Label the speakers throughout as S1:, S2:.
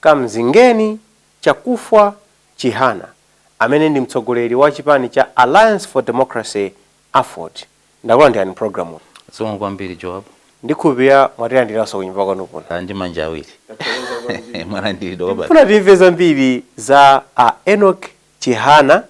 S1: Kamzingeni Chakufwa Chihana amene ndi mtsogoleri wa chipani cha Alliance for Democracy, aford, Ndakulandirani m'pulogalamuyi. Zikomo kwambiri Joab. Ndikhulupirira mwatilandiranso kunyumba kwanu kuno. Ndi manja awiri mwalandiridwa kwambiri. Tikufuna timve zambiri za a Enock Chihana.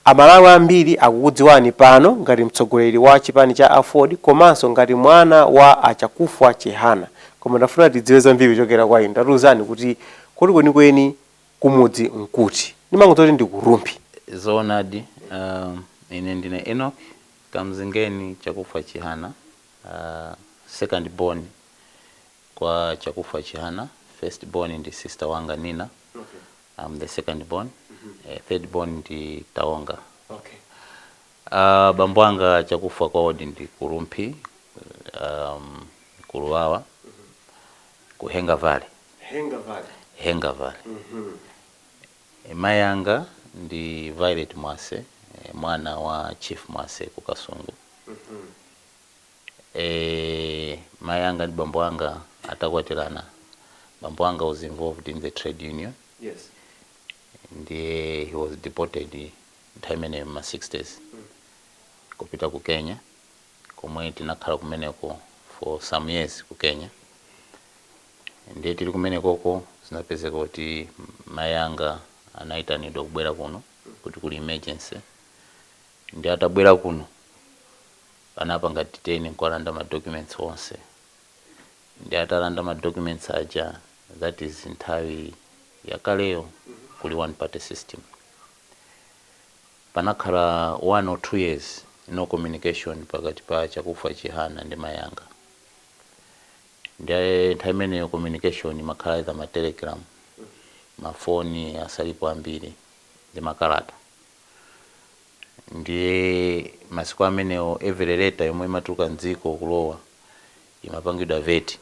S1: Amalawi ambiri akukudziwani pano ngati mtsogoleri wa chipani cha aford komanso ngati mwana wa a Chakufwa Chihana koma tafuna tidziwe zambiri kuchokera kwa inu tatiuzani kuti kodi kwenikweni kumudzi nkuti? Ndimangodziwa zoti ndi ku Rumphi. Zoonadi uh ine ndine Enoch Kamzingeni Chakufwa Chihana uh second born kwa Chakufwa Chihana first born ndi sister wanga Nina am the second born eh, third born ndi Tawonga okay uh, bambo anga chakufa kwawodi ndi ku Rumphi um, ku Luwawa ku henga valley henga valley henga valley Eh, mayi anga ndi violet mwase eh, mwana wa chief mwase ku kasungu Eeeh mai anga ndi bambo anga atakwatirana bambo anga was involved in the trade union Yes. ndiye he was deported nthawi imeneyo mma 60s kupita ku Kenya komwe tinakhala kumeneko for some years ku Kenya ndiye tili kumenekoko zinapezeka kuti mai anga anaitanidwa kubwera kuno kuti kuli emergency ndiye atabwera kuno Anapanga detain nkuwalanda ma documents onse nde atalanda ma documents aja that is nthawi yakaleyo kuli one party system panakhala one or two years no communication pakati pa Chakufwa Chihana ndi mayi anga nde nthawi imeneyo communication imakhala either ma telegram ma phone asali ambiri ndi makalata Ndiye masiku amenewo every letter yomwe imatuluka mdziko kulowa imapangidwa vet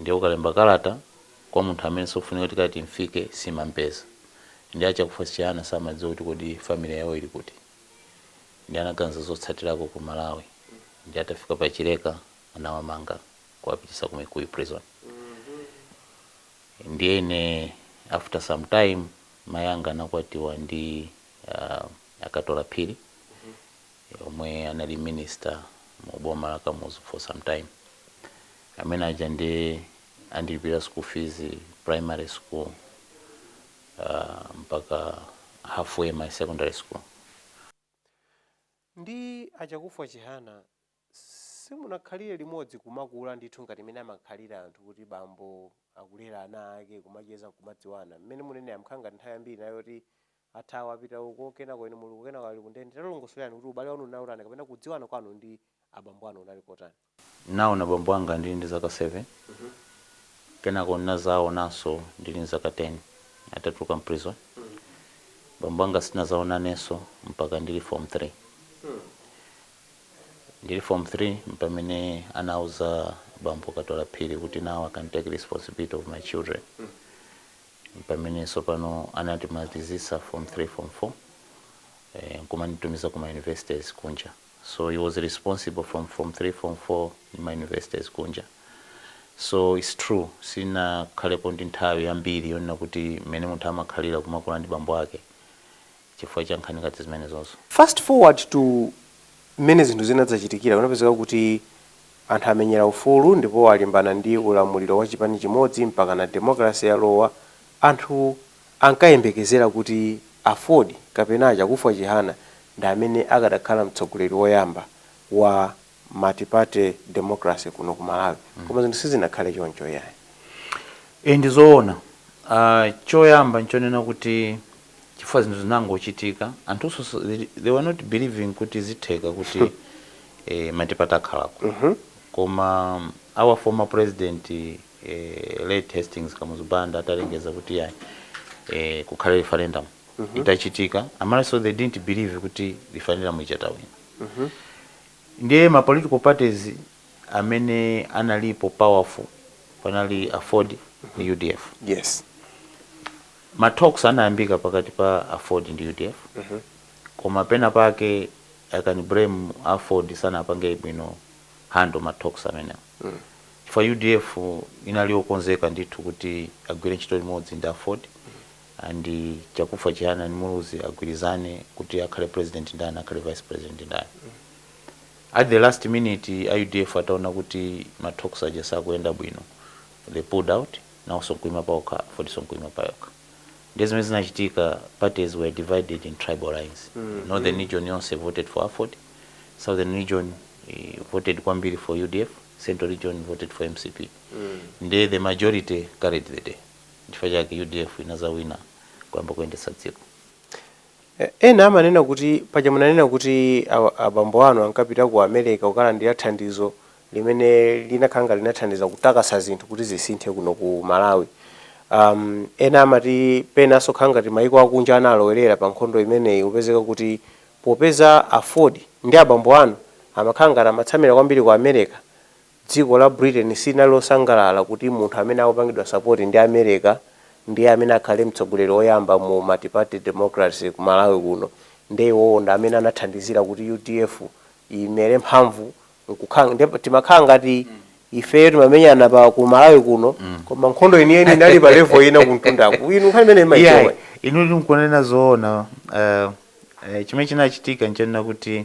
S1: ndiye ukalemba kalata kwa munthu amene sakufunika kuti kalata imfike simampeza ndiye a Chakufwa Chihana samadziwa kuti kodi family yawo ili kuti ndiye anaganiza zotsatirako ku Malawi ndiye atafika pa Chileka anawamanga kuwapitisa ku Mikuyu prison ndiye ine after sometime mai anga anakwatiwa ndi a Katola Phiri omwe anali minister mu boma la Kamuzu for some time amene aja nde anandilipira school fees primary school uh, mpaka halfway my secondary school Nde a Chakufwa Chihana Simunakhalire limodzi kumakula ndithu ngati mmene amakhalira anthu kuti bambo akulera ana ake kumacheza nkumadziwana mmene mukunenera nkukhala ngati nthawi yambiri inali yoti athawa apita uko kenako inu muli uko kenako ali ku ndende talongosolerani kuti ubale wanu unali otani kapena kudziwana kwanu ndi abambo anu unali kotani? Ndinaona bambo anga ndili ndi zaka 7, kenako ndinazaonanso ndili nzaka 10 atatuluka m'prison. Bambo anga sitinadzaonanenso mpaka ndili form 3. Ndili Form 3 mpamene anawauza bambo Katola Phiri kuti now I can take responsibility of my children. Mpamene tsopano anatimalizitsa Form 3, Form 4 eh, nkumanditumiza kuma universities kunja. So he was responsible from Form 3, Form 4 ndi ma universities kunja. So it's true sinakhalepo ndi nthawi yambiri yonena kuti mmene munthu amakhalira kumakula ndi bambo ake chifukwa cha nkhani ngati zimenezozo. Fast forward to mmene zinthu zinadzachitikira, kunapezeka kuti anthu amenyera ufulu ndipo alimbana ndi ulamuliro wa chipani chimodzi mpakana democracy yalowa, anthu ankayembekezera kuti Aford kapena a Chakufwa Chihana ndi amene akanakhala mtsogoleri woyamba wa. multiparty democracy kuno ku Malawi koma zinthu sizinakhale choncho iyayi. Ee ndi zoona. Choyamba n'chonena kuti chifukwa zinthu zinangochitika, anthunso they were not believing kuti zitheka kuti multiparty ikhalako. Koma our former president late Hastings Kamuzu Banda atalengeza kuti iyayi kukhale referendum itachitika, a Malawi they didn't believe kuti referendum ija tawina. Ndiye ma political parties amene analipo powerful panali aford ndi udf. Yes. Ma talks anayambika pakati pa aford ndi udf koma pena pake I can blame aford sanapange bwino handle ma talks amenewo chifukwa udf inali yokonzeka ndithu kuti agwire ntchito limodzi ndi aford and Chakufwa Chihana and Muluzi agwirizane kuti akhale president ndani akhale vice president ndani at the last minute a udf ataona kuti ma talks aja sakuyenda bwino they pulled out nawonso nkuima paokha afordnso nkuima payokha ndiye zimene zinachitika parties were divided in tribal lines northern region yonse voted for aford southern region eh, voted kwambiri for udf central region voted for mcp ndiye the majority carried the day Nchifukwa chake udf inadzawina kuyamba kuyendetsa dziko. Ena amanena kuti paja munanena kuti abambo anu ankapita ku Amereka kukalandira thandizo limene linakhala ngati linathandiza kutakasa zinthu kuti zisinthe kuno ku Malawi. Um, ena amati penanso khala ngati maiko akunja analowerera pa nkhondo imeneyi kupezeka kuti popeza Aford ndi abambo anu amakhala ngati amatsamira kwambiri ku Amereka Dziko la Britain silinali losangalala kuti munthu amene akupangidwa support ndi America ndiye amene akhale mtsogoleri oyamba mu multiparty democracy ku Malawi kuno nde iwowo ndi amene anathandizira kuti UDF imere mphamvu nkukhala nde timakhala ngati ifeyo timamenyana pa ku Malawi kuno koma nkhondo yeniyeni inali pa level ina kumtundaku inu nkhani imene mumaidziwa iyayi bwanji? inu mukunena zoona eh, eh, chimene chinachitika nchonena kuti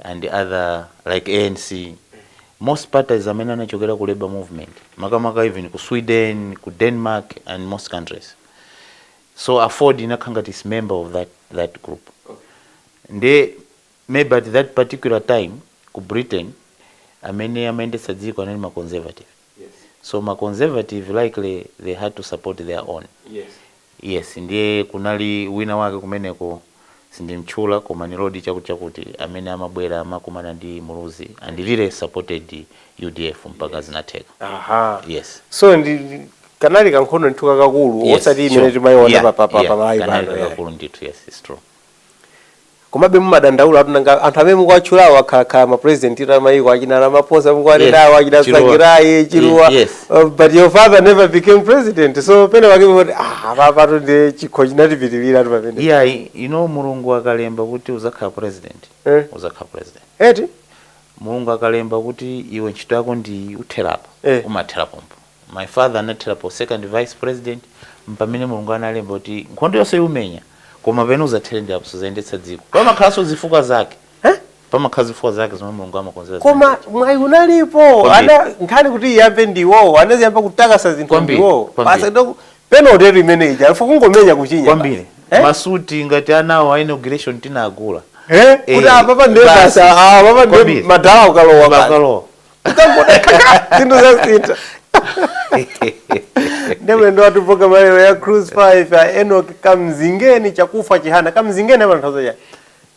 S1: and other like ANC most parties amene anachokera ku labour movement makamaka even ku Sweden ku Denmark and most countries so Aford inakhala ngati it is member of that, that group nde maybe at that particular time ku britain amene amayendetsa dziko anali ma conservative yes so ma conservative likely they had to support their own yes yes ndiye kunali wina wake kumeneko sindimtchula koma ni lodi chakuti chakuti amene amabwera amakumana ndi muluzi and really supported udf mpaka yes zinatheka aha yes so ndi ndi- kanali kankhondo ndithu kakakulu yes osati imene sure timayiona yeah pa pa pa yeah pa mayi kanali pano yeah. kakakulu ndithu yes it's true komabe mumadandaulatu nanga anthu amene mukuwatchulawo akhalakhala ma president a mayiko achina ramaphosa mukuwanenawo Yes, achina Chiluba. Tsvangirai Chiluba Yes. Uh, but your father never became president so penapake kuti ah papatu ndi chikho chinatipitirira tu pamene iya you know mulungu akalemba kuti uzakhala president Eh. uzakhala president eti mulungu akalemba kuti iwe ntchito yako ndi uthera apo Eh. umathera pompo My father anathera pa second vice president mpamene mulungu analemba kuti nkhondo yonse uimenya koma pamene uzathere ndi apa suzayendetsa dziko pamakhalanso zifukwa zake Eh? pamakhala zifukwa zake zomwe mulungu amakonzera zinthu. koma mwayi unalipo Kwambiri. ana nkhani kuti iyambe ndiwowo anaziyamba kutakasa zinthu Kwambiri, ndiwowo kwambiri. basi ndo penalty imene ija a ref kungomenya kuchinya kwambiri Eh? masuti ngati anu a inauguration tinagula Eh? Eh, kuti apapa ndiye basi. basi apapa ndiye Kwambiri. madala akalowa basi. bakalowa ukangotakasa zinthu zasintha ndiye mlendo wathu pa program yalero ya cruise 5 ya Enock kamzingeni chakufa chihana kamzingeni amatanthauza chani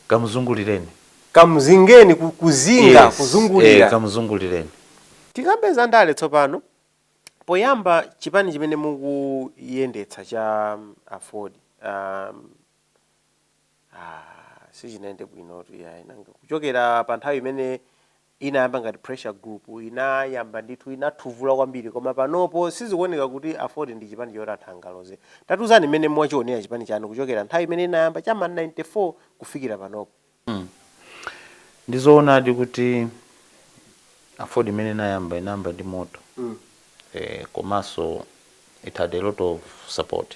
S1: kamuzungulireni kamzingeni ku- kuzinga Yes, eh, kuzungulira kamuzungulireni tikambe za ndale tsopano poyamba chipani chimene mukuyendetsa cha um, aford um, ah, sichinayende bwinotu yayi nanga kuchokera pa nthawi imene inayamba ngati pressure group inayamba ndithu inathuvula kwambiri koma panopo sizikuoneka kuti aford ndi chipani choti anthu angaloze tatiuzani mmene mwachionera chipani chanu kuchokera nthawi mmene inayamba cha ma 94 kufikira panopo ndi zoonadi kuti aford mmene inayamba inayamba ndi moto eh, komanso it had a lot of support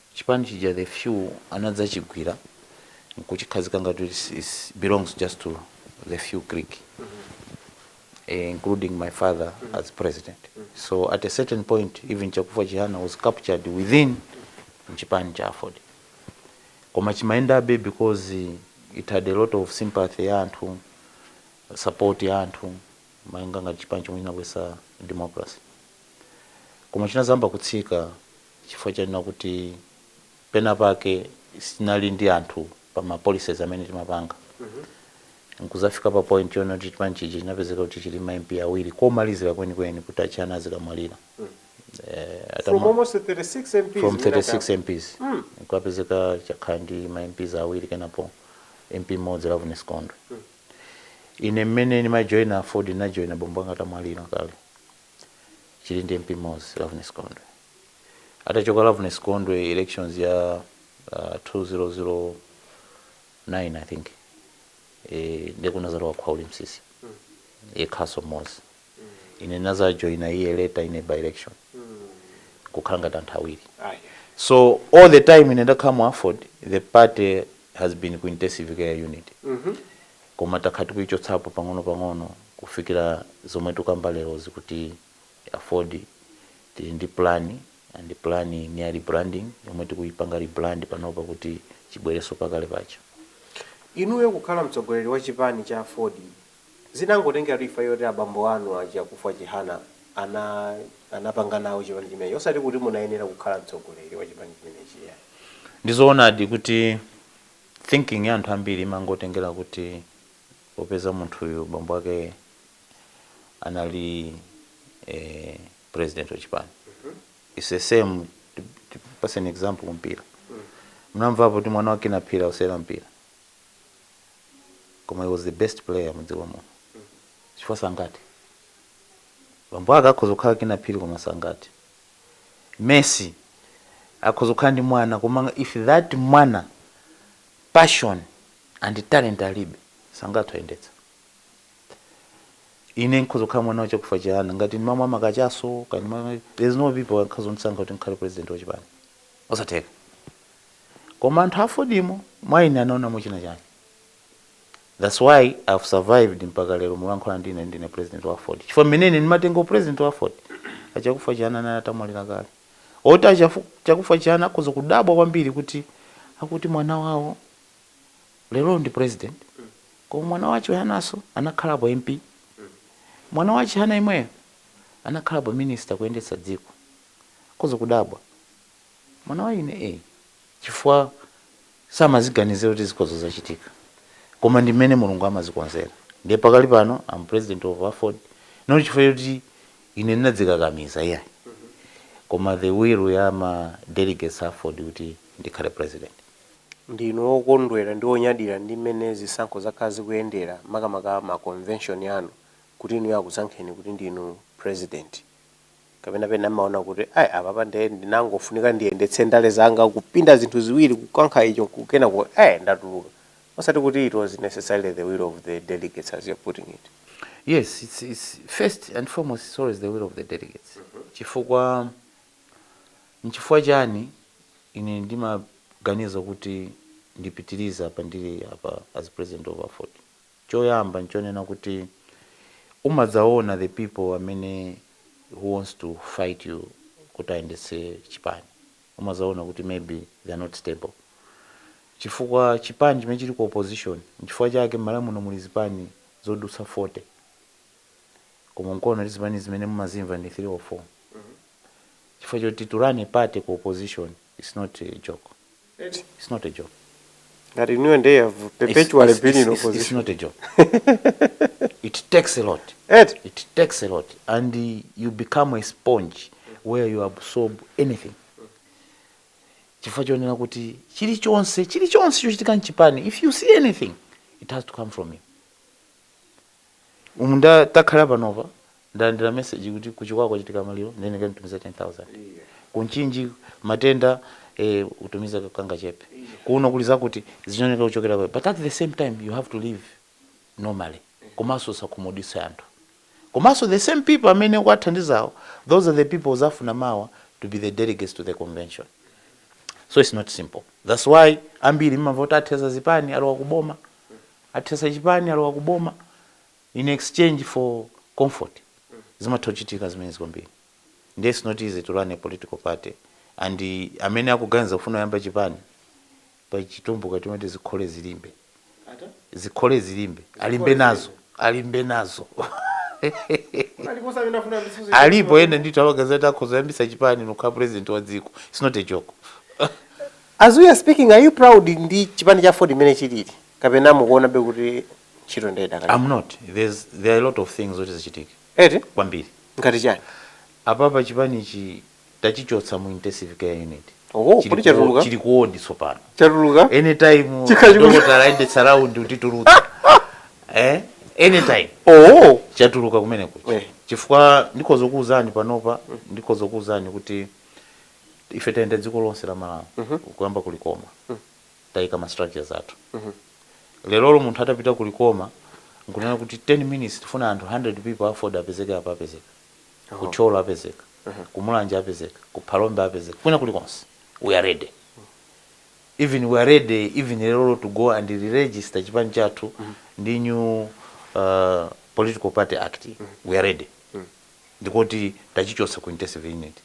S1: Chipani chija the few anadzachigwira nkuchikhazika ngati kuti it it belongs just to the few clique eh, including my father as president so at a certain point even Chakufa Chihana was captured within mchipani cha Aford koma chimayendabe because it had a lot of sympathy ya anthu support ya anthu malinga ngati chipani chomwe chinabwesa democracy koma chinazayamba kutsika chifukwa chonena kuti pena pake sitinali ndi anthu pa ma policies amene timapanga nkudzafika pa point yonena kuti chipani chija chinapezeka kuti chili ma MP awiri komalizira kwenikweni kuti achihana azikamwalira eh, from atama, almost 36 MPs from mwina 36 chabe. MPs kwapezeka chakhala ndi ma MPs awiri kenapo MP mmodzi Loveness Gondwe ine mmene ndimajoina aford ndinajoina bambo anga atamwalira kale chili ndi mp mmodzi Loveness Gondwe atachoka Loveness Gondwe elections ya uh, 2009 I think eh, ndiye kunazalowa khwauli msisi yekhaso mmodzi ine ndinazajoina iye later ine by election kukhala ngati anthu awiri so all the time ine ndakhala mu aford the party has been ku intensive care unit Koma takhala tikuichotsapo pang'ono pang'ono kufikila zomwe tikukamba lerozi kuti aford. Tili ndi plan and plan ndi ya rebranding yomwe tikuipanga rebrand panopa kuti chibwelenso pakale paja. Inuyo kukhala mtsogoleri wa chipani cha aford zinangotengelatu chifukwa choti abambo anu a Chakufa Chihana ana anapanga nawo chipani chimenechi osati kuti munayenera kukhala mtsogoleri wa chipani chimenechi iyayi. Ndizoonadi kuti thinking ya anthu ambiri imangotengera kuti popeza munthuyu bambo ake anali eh, president wa chipani its the same tipase an example kumpira mnamvapo kuti mwana wa Kinnah Phiri akusewera mpira koma he was the best player mudziko muno chifukwa sangati bambo ake akhoza kukhala Kinnah Phiri koma sangati Messi akhoza kukhala ndi mwana koma if that mwana passion and talent alibe sangathe kuyendetsa. Ine nkhoza kukhala mwana wa Chakufa Chihana ngati ndimamwa makachasu kaya ndimamwa there is no people akhoza kundisankha kuti ndikhale president wa chipani. Osatheka. Koma anthu a Aford mwa ine anaonamo china chake. that's why I have survived mpaka lero mulankhula ndi ine ndine president wa aford chifukwa mmene ine ndimatenga upresident wa aford a Chakufwa Chihana anali atamwalira kale oti a Chafu- Chakufwa Chihana akhoza kudabwa kwambiri kuti akuti mwana wawo lero ndi president koma mwana wa Chihananso anakhalapo mp mwana wa Chihana yemweyo anakhalapo minister kuyendetsa dziko akhoza kudabwa mwana wa ine eh chifukwa samaziganizira kuti zikhoza kuchitika koma ndi mmene Mulungu amazikonzera ndiye pakali pano I'm president of aford not chifukwa choti ine ndinadzikakamiza iyayi koma the will ya ma delegates a aford kuti ndikhale president. Ndinu wokondwera ndi wonyadira ndi mmene zisankho zakhala zikuyendera makamaka ma convention anu kuti inuyo akusankheni kuti ndinu president kapena pena mumaona kuti ayi apapa nde ndinangofunika ndiyendetse ndale zanga kupinda zinthu ziwiri kukankha icho kenako eh ndatuluka osati kuti it was necessarily the will of the delegates as you're putting it yes it's, it's first and foremost it's always the will of the delegates mm -hmm. chifukwa nchifukwa chani ine ndimaganiza kuti ndipitiriza apa ndili apa as president of aford Choyamba nchonena kuti umadzaona the people amene who wants to fight you kuti ayendetse chipani umadzaona kuti maybe they are not stable chifukwa chipani chimene chili ku opposition nchifukwa chake m'Malawi muno muli zipani zodutsa 40 koma mukuona kuti zipani zimene mumazimva ndi 3 or 4 chifukwa choti to run a party ku opposition it's not a joke. Eti? It's not a joke. Ngati inuyo ndiye you have perpetually it's, been in opposition. It's not a joke. it takes a lot. Eti? It takes a lot and uh, you become a sponge where you absorb anything. Chifukwa chonena kuti chilichonse chilichonse chochitika mchipani if you see anything it has to come from you. mmene takhala panopa ndalandira message kuti ku Chikwawa kwachitika maliro ndifunika nditumize 10000 ku Mchinji matenda eh, utumiza kangachepe kuno kuli zakuti zinoneka kuchokera kwa but at the same time you have to live normally komanso usakhumudwitse anthu komanso the same people amene ukuwathandizawo those are the people uzafuna mawa to be the delegates to the convention so it's not simple that's why ambiri mmamva kuti athetsa zipani alowa kuboma Athetsa chipani alowa ku boma in exchange for comfort zimatha kuchitika zimenezi kwambiri nde its not easy to run a political party and amene akuganiza kufuna kuyamba chipani pali chitumbuka chomati zikhole zilimbe zikhole zilimbe alimbe nazo alimbe nazo alipo ena ndithu amaganiza kuti akhoza kuyambitsa chipani nkukhala president wa dziko its not a joke. As we are speaking are you proud ndi chipani cha aford mmene chilili? kapena mukuonabe kuti ntchito nde idakalipo I'm not there's there are a lot of things zoti zichitike eti kwambiri ngati chani apapa chipanichi tachichotsa mu intensive care unit Oh, Chili kodi ku- chatuluka? chili ku ward tsopano chatuluka anytime Chikhachi- dokotala ayendetsa round atitulutsa eh anytime oh chatuluka kumene kucha Eh. chifukwa ndikhoza kukuwuzani panopa ndikhoza kukuwuzani kuti ife tayenda dziko lonse la malawi kuyamba ku Likoma taika ma structures athu lerolo munthu atapita ku Likoma nkunena kuti 10 minutes tifuna anthu 100 people a aford apezeke apo apezeka ku Thyolo apezeka ku Mulanje apezeka ku Phalombe apezeka kwina kulikonse we are ready even we are ready even lerolo to go and re-register chipani chathu ndi new uh, political party act we are ready ndikoti tachichotsa ku intensive unit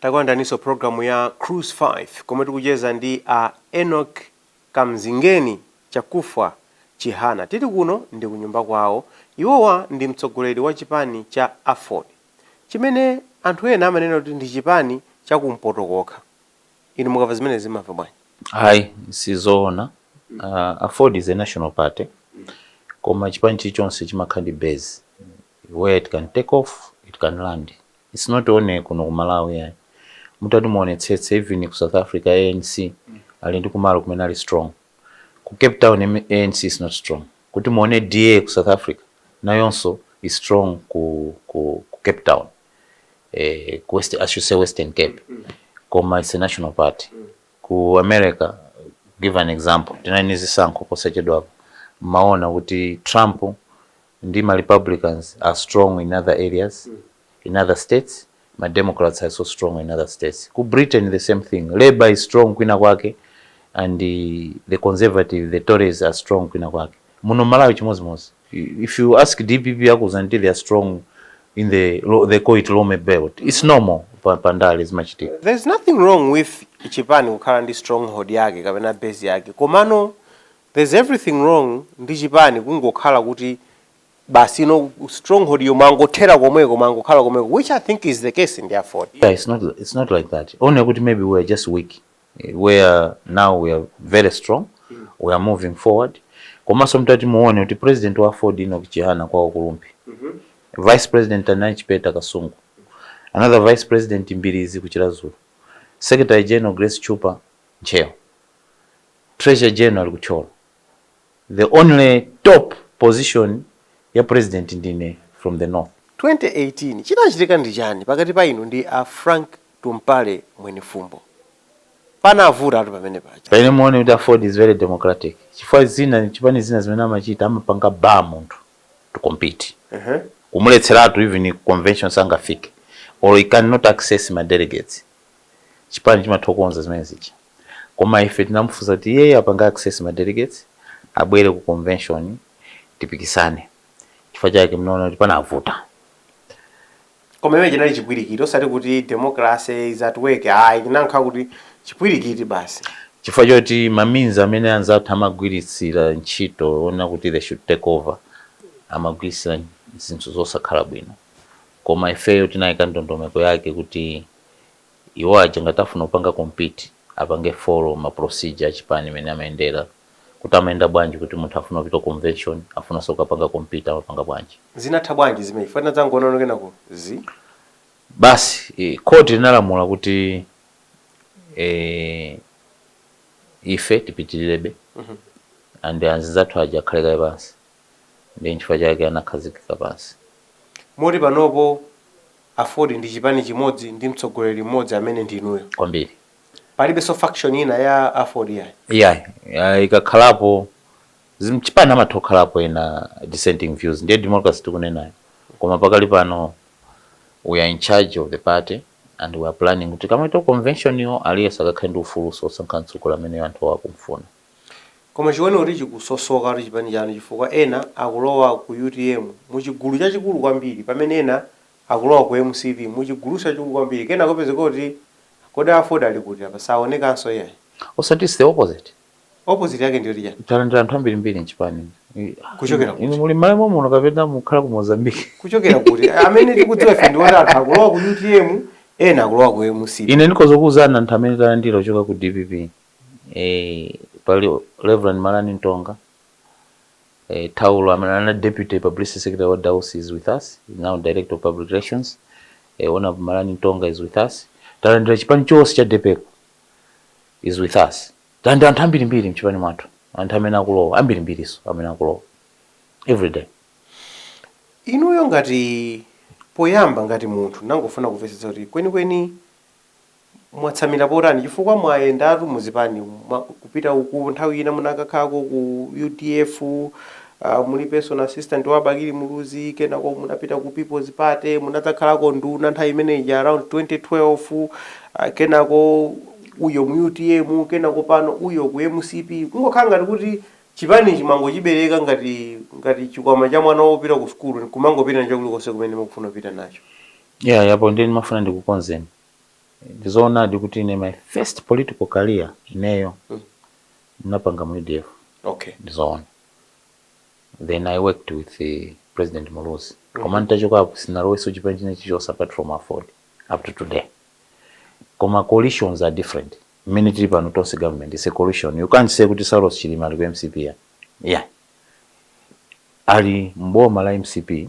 S1: takulandiraninso pulogalamu ya cruise 5 komwe tikucheza ndi a enoch kamzingeni chakufwa chihana tili kuno ndi kunyumba kwawo iwowa ndi mtsogoleri wa chipani cha aford chimene anthu ena amanena kuti ndi chipani cha kumpoto kokha inu mukamva zimenezi mumamva bwanji Ayi sizoona uh, aford is a national party koma chipani chilichonse chimakhala ndi base where it can take off it can land it's not only kuno ku malawi yayi mutati muonetsetse even ku south africa anc ali ndi kumalo kumene ali strong ku cape town M- anc is not strong kuti muone da ku south africa nayonso is strong ku, ku, ku cape town eh, ku west i should say western cape koma it's a national party ku america give an example tinali ni zisankho posachedwapo mmaona kuti trump ndi ma republicans are strong in other areas in other states ma democrats are so strong in other states ku britain the same thing labor is strong kwina kwake and eh, the conservative the tories are strong kwina kwake muno malawi chimodzimodzi If you ask DPP akuuza kuti they are strong in the lo- they call it Lomwe belt. It's normal pa, pa ndale zimachitika. there's nothing wrong with chipani kukhala ndi stronghold yake kapena base yake komano there's everything wrong ndi chipani kungokhala kuti basi mu stronghold yo mumangothera komweko mumangokhala komweko which i think is the case with the aford Yeah, it's not it's not like that. Only kuti maybe we are just weak. where now we are very strong we are moving forward komanso mtati muone kuti president wa Ford Enoch Chihana kwa Okulumpi mm -hmm. vice president Anai Chipeta Kasungu another vice president Mbirizi kuchilazulu secretary general Grace Chupa Ncheo treasurer general kucholo The only top position ya president ndine from the north. 2018 chinachitika ndi chani pakati pa inu ndi a Frank Tumpale Mwenifumbo? Panavutatu pamene paja. Pamene muone kuti aford is very democratic chifukwa zina chipani zina zimene amachita amapanga bar munthu to compete kumuletseratu even ku convention sangafike or he cannot access ma delegates chipani chimatha kukonza zimene zija. Koma ife tinamufunsa kuti iyeyo apange access ma delegates abwere ku convention tipikisane. Chifukwa chake munaona kuti panavuta. Koma chimene chinali chipwirikiti osati kuti democracy is at work ayi, chinankhala kuti chipwirikiti basi. Chifukwa choti ma means amene anzathu amagwiritsira ntchito onena kuti they should take over amagwiritsira zinthu zosakhala bwino. Koma ifeyo tinayika ndondomeko yake kuti Iwo aja ngati afuna kupanga compete apange follow ma procedure achipani mene amayendera kuti amayenda bwanji kuti munthu afuna kupita ku convention afunaso kukapanga compete amapanga bwanji. Zinatha bwanji zimenezi chifukwa tinadzangoona kuti kenako zi. Basi court linalamula kuti eeh ife tipitilirebe and azinzathu aja akhale kaye pansi ndiye nchifukwa chake anakhazikika pansi. Moti panopo Aford ndi chipani chimodzi ndi mtsogoleri mmodzi amene ndi inuyo. kwambiri. Palibenso faction ina ya aford iyayi? Iyayi, ikakhalapo za mchipani amatha kukhalapo ena dissenting views ndiye democracy tikunenayo koma pakali pano we are in charge of the party and we are planning kuti tikamapita ku convention yo aliyense akakhale ndi ufuluso wosankha mtsogoleri amene anthuwo akumufuna. Koma chikuoneka kuti chikusosokatu chipani chanu chifukwa ena akulowa ku utm muchigulu chachikulu kwambiri pamene ena akulowa ku mcp muchiguluso chachikulu kwambiri kenako opezeka kuti Kodi aford ali kuti apa saonekanso iyayi. Osati its the opposite. Opposite yake ndiyoti chani? Talandira anthu ambirimbiri mchipani Kuchokera kuti? Inu muli mMalawi mommuno kapena mukukhala ku Mozambique? Kuchokera kuti? Amene tikudziwa ife ndiwoti anthu akulowa ku utm ena akulowa ku mcp. Ine ndikhoza kukuuzani anthu amene talandira kuchoka ku dpp pali Rev. Malani Mtonga, Thaulo amene anali Deputy Publicity Secretary wa Dausi is with us, is now Director of Public Relations, Hon. Malani Mtonga is with us, talandira chipani chonse cha Depeco is with us, talandira anthu ambirimbiri mchipani mwathu, anthu amene akulowa ambirimbiriso amene akulowa everyday. Inuyo ngati poyamba ngati munthu ndangofuna kumvetsetsa kuti kwenikweni mwatsamira potani chifukwa mwayendatu muzipani kupita uku nthawi ina munakakhalako ku udf muli personal assistant wa Bakili Muluzi kenako munapita ku People's Party munadzakhalako nduna nthawi imene ija around 2012 kenako uyo mu utm kenako pano uyo ku mcp kungokhala ngati kuti chipanichi mwangochibereka ngati ngati chikwama cha mwana wopita ku sukulu kumangopita nacho kulikonse kumene mukufuna kupita nacho Yeah apo ndiye ndimafuna ndikukonzeni. Ndizoonadi kuti ine my first political career ineyo mm. napanga mu UDF. Okay. Ndizoona. Then I worked with the President Muluzi. Mm. Koma nitachoka hapo sinaloweso chipani china chilichonse apart from Aford up to today. Koma coalitions are different. Mmene tili pano tonse government is a coalition. You can't say kuti Saulos Chilima ali ku MCP ya. Yeah. Ali mboma la MCP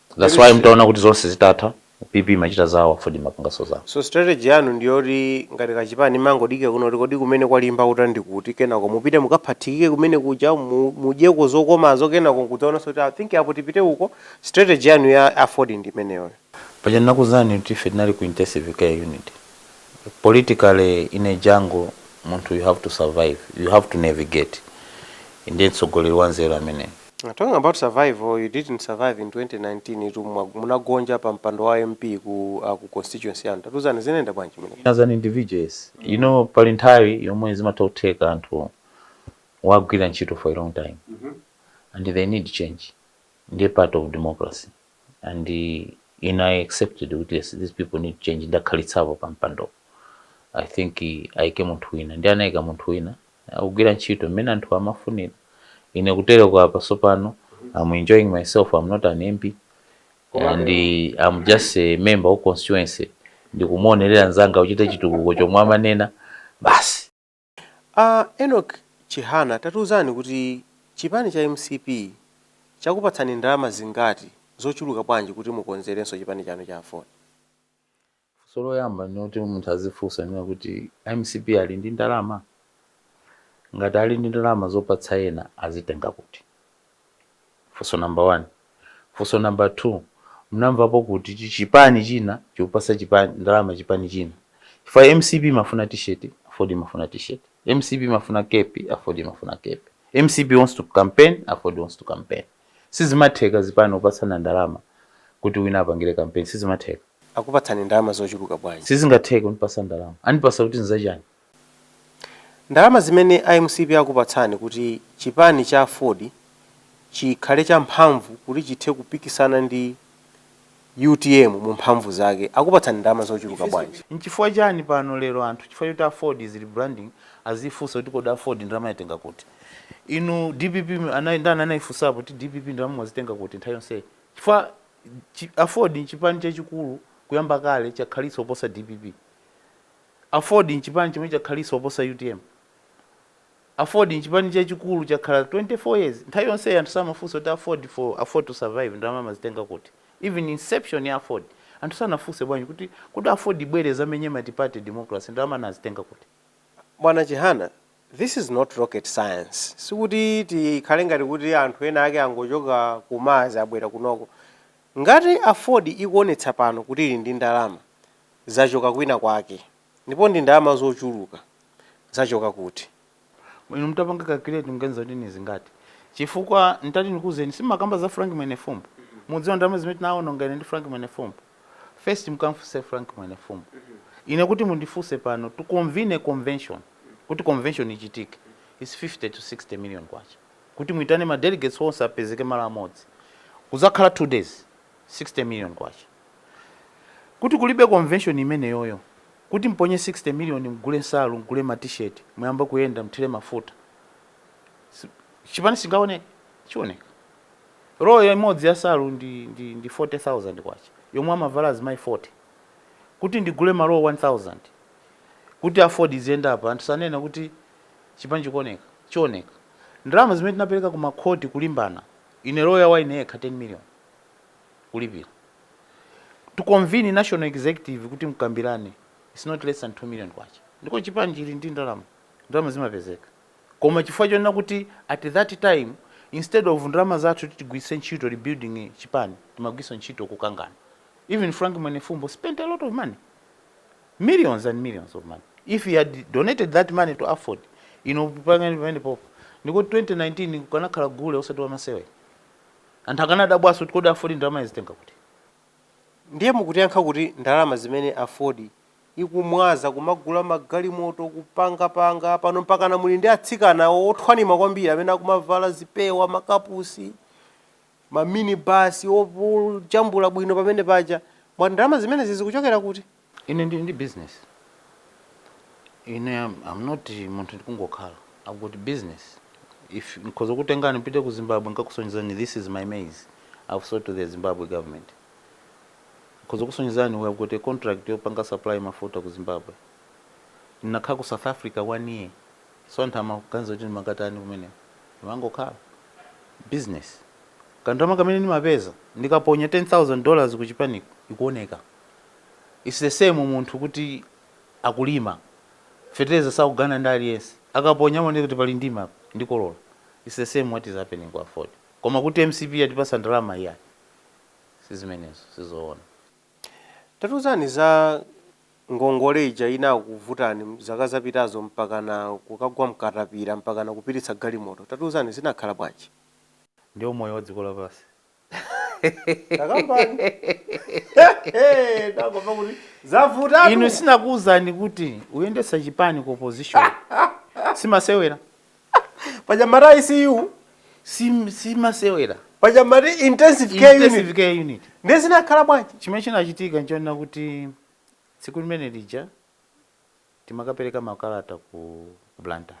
S1: That's why mtaona kuti zonse zitatha PP imachita zawo Aford imapanganso zawo. So strategy yanu ndiyoti ngati kachipani imangodikira kuno kuti kodi kumene kwalimba uta ndi kuti kenako mupite mukaphathikike kumene kuja mu- mudyeko zokomazo kenako nkudzaonanso kuti I think apo tipite uko strategy yanu ya Aford ndi imeneyoyo. Paja ndinakuuzani kuti ife tinali ku intensive care unit. Politically in a jungle munthu you have to survive, you have to navigate. Ndiye mtsogoleri wanzeru ameneyo. Talking about survival you didn't survive in 2019 tu mwa- munagonja pa mpando wa mp ku, uh, ku constituency yanu tatiuzani zinayenda bwanji mene as an individual yes you know pali nthawi yomwe zimatha kutheka anthu wagwira ntchito for a long time and they need change ndiye part of democracy and uh, ine i accepted kuti yes these people need change ndakhalitsapo pa mpando i think uh, ayike munthu wina ndi anayika munthu wina akugwira ntchito mmene anthuwa amafunira. Ine kutereko apa tsopano am enjoying myself, am not an MP and am just a member wa constituency ndikumuonerera mnzanga achite chitukuko chomwe amanena basi. A Enock Chihana tatiuzani kuti chipani cha mcp chakupatsani ndalama zingati zochuluka bwanji kuti mukonzerenso chipani chanu cha aford? Funso loyamba noti munthu azifunsa kunena kuti mcp ali ndi ndalama? Ngati ali ndi ndalama zopatsa ena azitenga kuti? Funso number one. Funso number two, munamvapo kuti chipani china chikupatsa chipani ndalama chipani china? Chifukwa mcp imafuna t-shirt aford imafuna t-shirt, mcp imafuna kepi aford imafuna kepi, mcp wants to campaign aford wants to campaign. Sizimatheka zipani kupatsana ndalama kuti wina apangire campaign sizimatheka. akupatsani ndalama zochuluka bwanji? Sizingatheke kundipasa ndalama. Andipasa kuti nzachiyani? Ndalama zimene a mcp akupatsani kuti chipani cha aford chikhale cha mphamvu kuti chithe kupikisana ndi utm mu mphamvu zake akupatsani ndalama zochuluka bwanji? Nchifukwa chani pano lero anthu chifukwa choti aford is rebranding azifunsa kuti kodi aford ndalama yatenga kuti? Inu dpp anali ndani anaifunsapo kuti dpp ndalama mwazitenga kuti nthawi yonseyi? Chifukwa Chi aford nchipani chachikulu kuyamba kale chakhalitsa kuposa dpp. Aford nchipani chomwe chakhalitsa kuposa utm. Aford nchipani chachikulu chakhala 24 years. Nthawi yonseyi anthu samafunsa kuti aford for aford to survive ndalama amazitenga kuti? Even inception ya aford anthu sanafunse bwanji kuti kodi aford ibwere izamenye multiparty democracy ndalama anazitenga kuti? Bwana Chihana, This is not rocket science, sikuti tikhale ngati kuti anthu ena ake angochoka ku Mars abwera kunoko. Ngati Aford ikuonetsa pano kuti ili ndi ndalama, zachoka kwina kwake. Ndipo ndi ndalama zochuluka. Zachoka kuti? Inu mutapanga calculate muganiza kuti ndi zingati? Chifukwa nditati ndikuuzeni, sindimakamba za Frank Mwenefumbo. Mukudziwa ndalama zimene tinaononga ine ndi Frank Mwenefumbo? first mukamfunse Frank Mwenefumbo. Ine kuti mundifunse pano to convene a convention, kuti convention ichitike it's 50 to 60 million kwacha. Kuti muitane ma delegates onse apezeke malo amodzi kuzakhala two days 60 million kwacha. Kuti kulibe convention imeneyoyo kuti mponye 60 million mgule nsalu, mgule ma t-shirt, muyambe kuyenda mthire mafuta chipani sichingaoneke? Chioneka. Roll imodzi ya nsalu ndi ndi ndi K40,000 yomwe amavala azimayi 40. Kuti ndigule ma roll 1000 kuti Aford iziyenda apa anthu sanena kuti chipani chikuoneka, chioneka. Ndalama zimene tinapeleka ku ma court kulimbana, ine lawyer wa ine yekha 10 million kulipila. To convene national executive kuti mkambilane it's not less than K2 million. Ndipo chipani chili ndi ndalama, ndalama zimapezeka. koma chifukwa chonena kuti at that time instead of ndalama zathu kuti tigwiritse ntchito rebuilding chipani timagwiritsa ntchito kukangana even Frank Mwenefumbo spent a lot of money millions and millions of money if he had donated that money to Aford ino pangani pamene popo ndikuti 2019 kukanakhala gule osati wamasewera anthu akanadabwanso kuti kodi Aford ndalama yazitenga kuti ndiye mukutiyankha kuti ndalama zimene Aford ikumwaza kumagula magalimoto kupanga panga pano mpakana muli ndi atsikana othwanima kwambiri amene akumavala zipewa makapusi ma mini bus ojambula bwino pamene paja mwati ndalama zimenezi zikuchokera kuti ine ndili ndi business ine am, am not munthu wongokhala i've got business if nkhoza kukutengani mupite ku zimbabwe nkakusonyezani this is my maize i've sold to the zimbabwe government Nkhoza kukusonyezani we have got a contract yopanga supply mafuta ku Zimbabwe. Ndinakhala ku South Africa one year so anthu amaganiza kuti ndimakatani kumeneko. Ndimangokhala. Business. Kandalama kamene ndimapeza ndikaponya 10,000 dollars ku chipaniko ikuoneka. It's the same munthu kuti akulima fetereza sakugawana ndi aliyense. Akaponya amaoneka kuti pali ndima apa ndikolola. It's the same what is happening ku Aford. Koma kuti mcp yatipatsa ndalama iyayi. si zimenezo sizoona. Tatiuzani za ngongole ija inakuvutani zaka zapitazo mpakana kukagwa mkatapira mpakana kupititsa galimoto tatiuzani zinakhala bwanji? Ndiwo moyo wa dziko lapansi. Takambani. Ndangomva kuti zavutatu. Inu sinakuuzani kuti kuyendetsa chipani ku opposition simasewera? paja mumati icu si si masewera paja mumati intensive care unit intensive care unit ndiye zinakhala bwanji chimene chinachitika nchonena kuti tsiku limene lija timakapereka makalata ku ku blantyre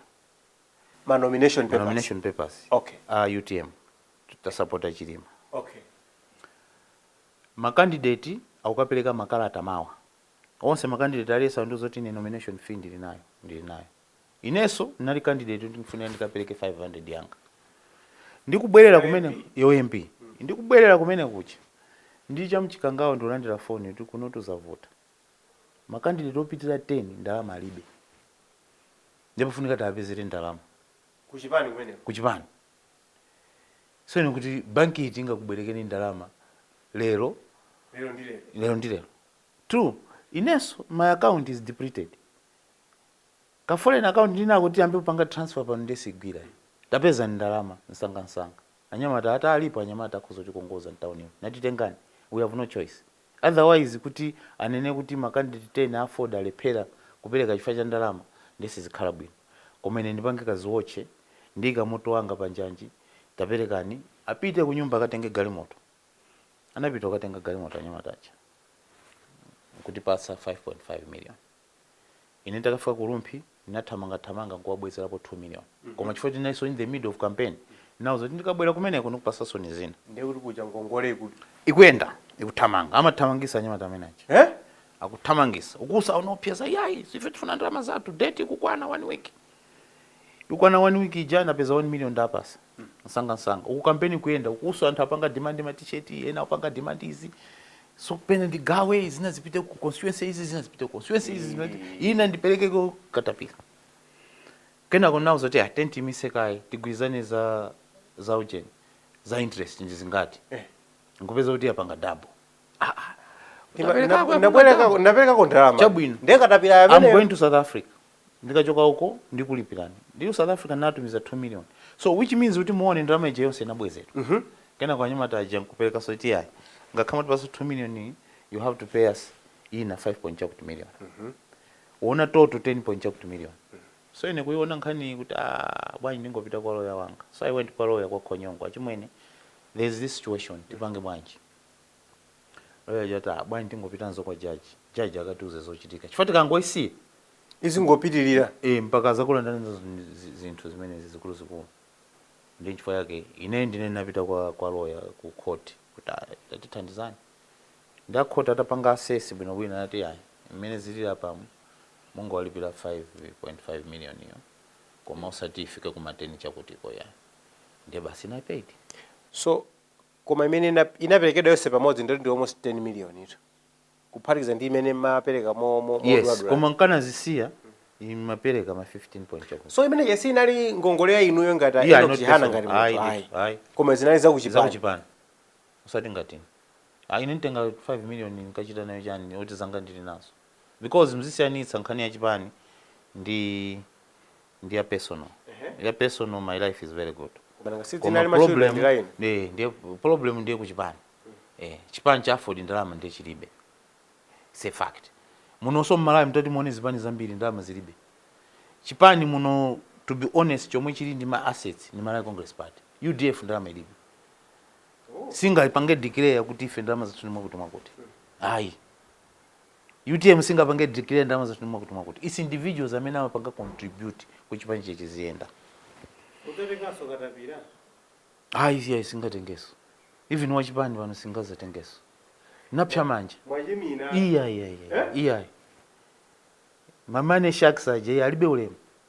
S1: ma nomination ma papers nomination papers Okay. a utm titasapota chilima okay makandideti akukapereka makalata mawa onse makandideti aliyense andiuza kuti ine nomination fee ndili nayo ndili nayo Inenso ndinali candidate yoti ndikufunika ndikapereke 500 yanga. Ndikubwerera kumene ya u MP. Ndikubwerera kumene kuja ndili cha mchikangawa ndikulandira phone yoti kunotu zavuta. Ma candidate opitirira 10 ndalama alibe. Ndiye pafunika tiwapezere ndalama. Ku chipani kumeneko? Ku chipani. So ine nkuti bank iti ingakubwerekeni ndalama lero? Lero ndi lero. Lero ndi lero. Two, inenso my account is depleted. Ka foreign account ndinako tiyambe kupanga transfer pano ndiye sigwira iyi. Tapezani ndalama nsangansanga. Anyamata akuti alipo anyamata akhoza kutikongoza m'taunimu. Nati tengani, we have no choice. Otherwise kuti anene kuti ma candidate 10 a aford alephera kupereka chifukwa cha ndalama ndiye sizikhala bwino. Koma ine ndipange kadziwotche, ndiika moyo wanga panjanji, taperekani. Apite kunyumba akatenge galimoto. Anapita kukatenga galimoto anyamata aja n'kutipatsa 5.5 million. Ine nditakafika ku Rumphi ndinathamangathamanga n'kuwabwezerapo 2 million koma chifukwa choti ndinalinso in the middle of campaign ndinawauza kuti ndikabwera kumeneko ndikupatsaninso zina. Ndiye kuti kuja ngongole iku. ikuyenda, ikuthamanga. Amathamangitsa anyamata amene aja. Eh? Akuthamangitsa. Ukuso akuopseza yayi, ife tifuna ndalama zathu, date ikukwana 1 week. ikwana 1 week ija napeza 1 million ndawapatsa nsanga nsanga uku kampeni kuyenda ukuso anthu apanga demand ma t-shirt ena apanga demand izi so pena ndigawe zina zipite ku constituency izi zina zipite ku constituency izi zina ina ndipeleke ku katapila kenako ndawauza kuti tiyeni tiimitse kaye tigwirizane za za ujeni za interest ndi zingati nkupeza kuti yapanga double Ah, ah. Tima- Utapereka na- kwa- napereka- naperekako ndalama chabwino ndiye katapila I'm going to south africa ndikachoka uko ndikulipilani ndi south african natumiza 2 million so which means kutimuone ndalama ija yonse inabwezedwa mm -hmm. kenako anyamata aja akupangaso kuti ayi ngakhale mwatipatsa 2 million you have to pay us ina 5 point chakuti million mm -hmm. muona total 10 point chakuti million mm -hmm. so ine kuiona nkhani kuti ah, bwanji ndingopita kwa loya wanga so i went kwa loya kwa a khonyongo achimwene there is this situation tipange bwanji Lawyer aja ati ah bwanji tingopita nazo kwa judge. Judge akatiuze zochitika. Chifukwa tikangoisiya Izingopitirira. eh mpaka azakulandaninso zi- zi- zinthu zimenezi zikuluzikulu. Ndi chifukwa yake ine ndine ndinapita kwa kwa lawyer ku court kuti ah tatithandizani. Ndi a court atapanga assess bwino bwino anati ayi mmene zilili apamu mungowalipira 5.5 million iyo. Koma osati ifike kuma 10 chakutiko ya. Ndiye basi ine I paid. So koma imene inaperekedwa yonse pamodzi nditi ndi almost 10 million itu kuphatikiza ndi imene mmapereka yes koma nkanazisiya imapereka ma 15 point chakuti so imeneyi inali ngongole ya inuyo ngati yeah, enock chihana ngati munthu ayi ayi koma zinali za kuchipana za kuchipana usati ngati ayi ine nditenge 5 million nkachita nayo chani oti zanga ndili nazo because mzisiyanitsa nkhani ya chipani ndi ndi ya personal ya personal my life is very good Koma nanga si koma zinali za kuchipani problem line. eh, ndiye problem ndiye kuchipani eh, chipani cha aford ndalama ndiye chilibe It's a fact munonso mmalawi mtati muone zipani zambiri ndalama zilibe chipani muno to be honest chomwe chili ndi ma assets ndi malawi congress party udf ndalama ilibe singayipange declare kuti ife ndalama zathu ndi mwakuti mwakuti ayi Utm singapange declare ndalama zathu ndi mwakuti mwakuti. It's individuals amene amapanga contribute kuti chipanichi chiziyenda. Mudzatenganso katapira? Ayi iyayi singatengenso. Even wachipani pano singazatengenso. Napsa manja. Mwachimina. Iya iya iya. Eh? Iya. Ma money sharks aja alibe ulemu.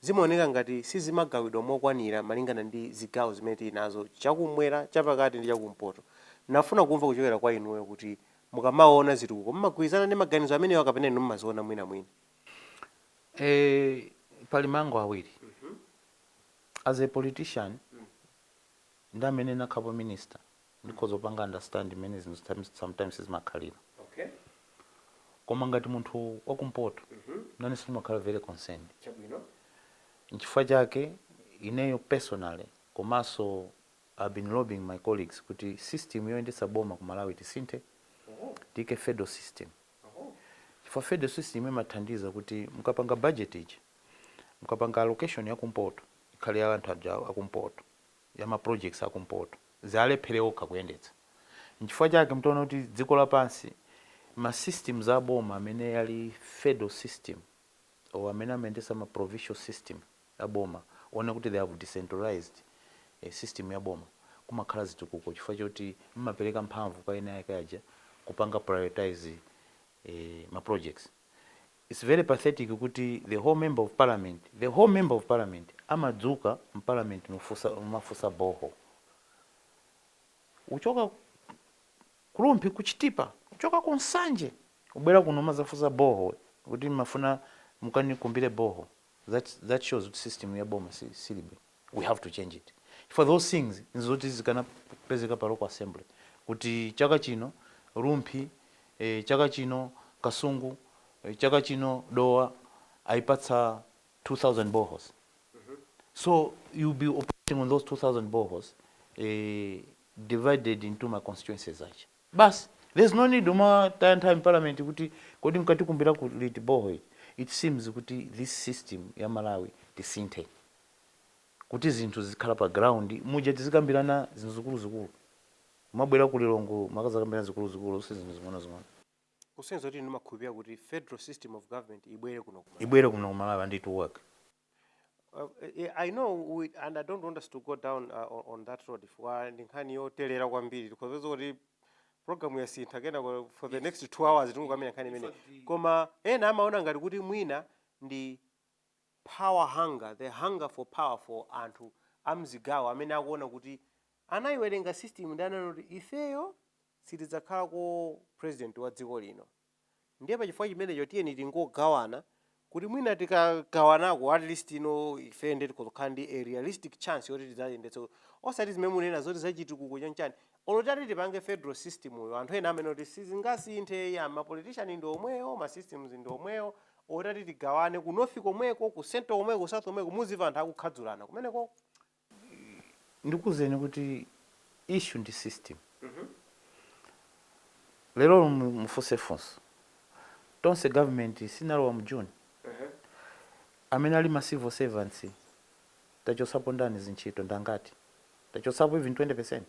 S1: Zimaoneka ngati sizimagawidwa mokwanira malingana ndi zigawo zimene tili nazo, chakummwera, chapakati ndi chakumpoto. Ndinafuna kumva kuchokera kwa inuyo kuti mukamaona zitukuko mumagwirizana ndi maganizo amenewa kapena inu mumaziona mwinamwina? Eee pali mbali ziwiri as a politician ndi amene ndinakhapo minister ndikhoza kupanga understand mmene zinthu times sometimes zimakhalira Okay. koma ngati munthu wakumpoto Mhm. nanenso ndimakhala very concerned Chabwino. nchifukwa chake ineyo personally komanso i've been lobbying my colleagues kuti system yoyendetsa boma ku malawi tisinthe Oh. tiike federal system Oh. chifukwa federal system imathandiza kuti mukapanga budget ija mukapanga allocation yakumpoto ikhale ya anthu aba akumpoto ya ma projects a kumpoto zimalephereka kuyendetsa nchifukwa chake mutaona kuti dziko lapansi ma systems a boma amene ali federal system or amene amayendesa ma provincial system a boma onani kuti they have decentralized system ya boma kumakhala zitukuko chifukwa choti mmapeleka mphamvu kwa eni ake aja kupanga prioritise ma projects Its very pathetic kuti the whole member of parliament, the whole member of parliament amadzuka mparliament mumafunsa borehole kuchoka Ku rumphi Ku chitipa kuchoka Ku nsanje kubwera kuno kumazafunsa borehole kuti mmafuna mukandikumbire borehole that that shows kuti system ya boma siili bwino. we have to change it chifukwa those things nzoti zikanapezeka pa local assembly kuti chaka chino Rumphi eh, chaka chino Kasungu eh, chaka chino Dowa aipatsa 2000 boreholes so you'll be operating on those 2000 boreholes eh, divided into my constituencies aja basi there's no need kumataya nthawi mparliament kuti kodi mkatikumbira liti borehole iii it seems kuti this system ya malawi tisinthe kuti zinthu zizikhala pa ground muja tizikambirana zinthu zikuluzikulu kumabwera ku Lilongwe kumakazakambirana zikuluzikulu osati zinthu zing'onozing'ono. Kusonyeza kuti inu mumakhulupirira kuti Federal System of Government ibwere kuno ku Malawi. Ibwere kuno ku Malawi and it will work. I know we and I don't want us to go down uh, on that road chifukwa ndi nkhani yoterera kwambiri tikhoza kuti program yasintha kenako for the next two hours tingokakamira nkhani imeneyi koma ena amaona ngati kuti mwina ndi Power hunger, the hunger for power for anthu amzigawo amene akuona kuti anaiwerenga system ndiye anaona kuti ifeyo sitidzakhalako president wa dziko lino ndiye pachifukwa chimenecho tiyeni tingogawana kuti mwina tikagawanako at least you know ifeyo ndiye tikhoza kukhala ndi a realistic chance yoti tidzayendetse osati zimene munena zoti zachitukuko chani chani Olo titati tipange federal system-yo anthu ena amanena kuti sizingasinthe eya ma politician ndi omwewo ma systems ndi omwewo olo titati tigawane ku north komweko ku central komweko ku south komweko muzimva anthu akukhadzulana kumenekoko. Ndikuuzeni kuti issue ndi system lero mufunse funso tonse government chinalowa mu June amene ali ma civil servants Tachotsapo ndani pa ntchito ndi angati? Tachotsapo even 20%?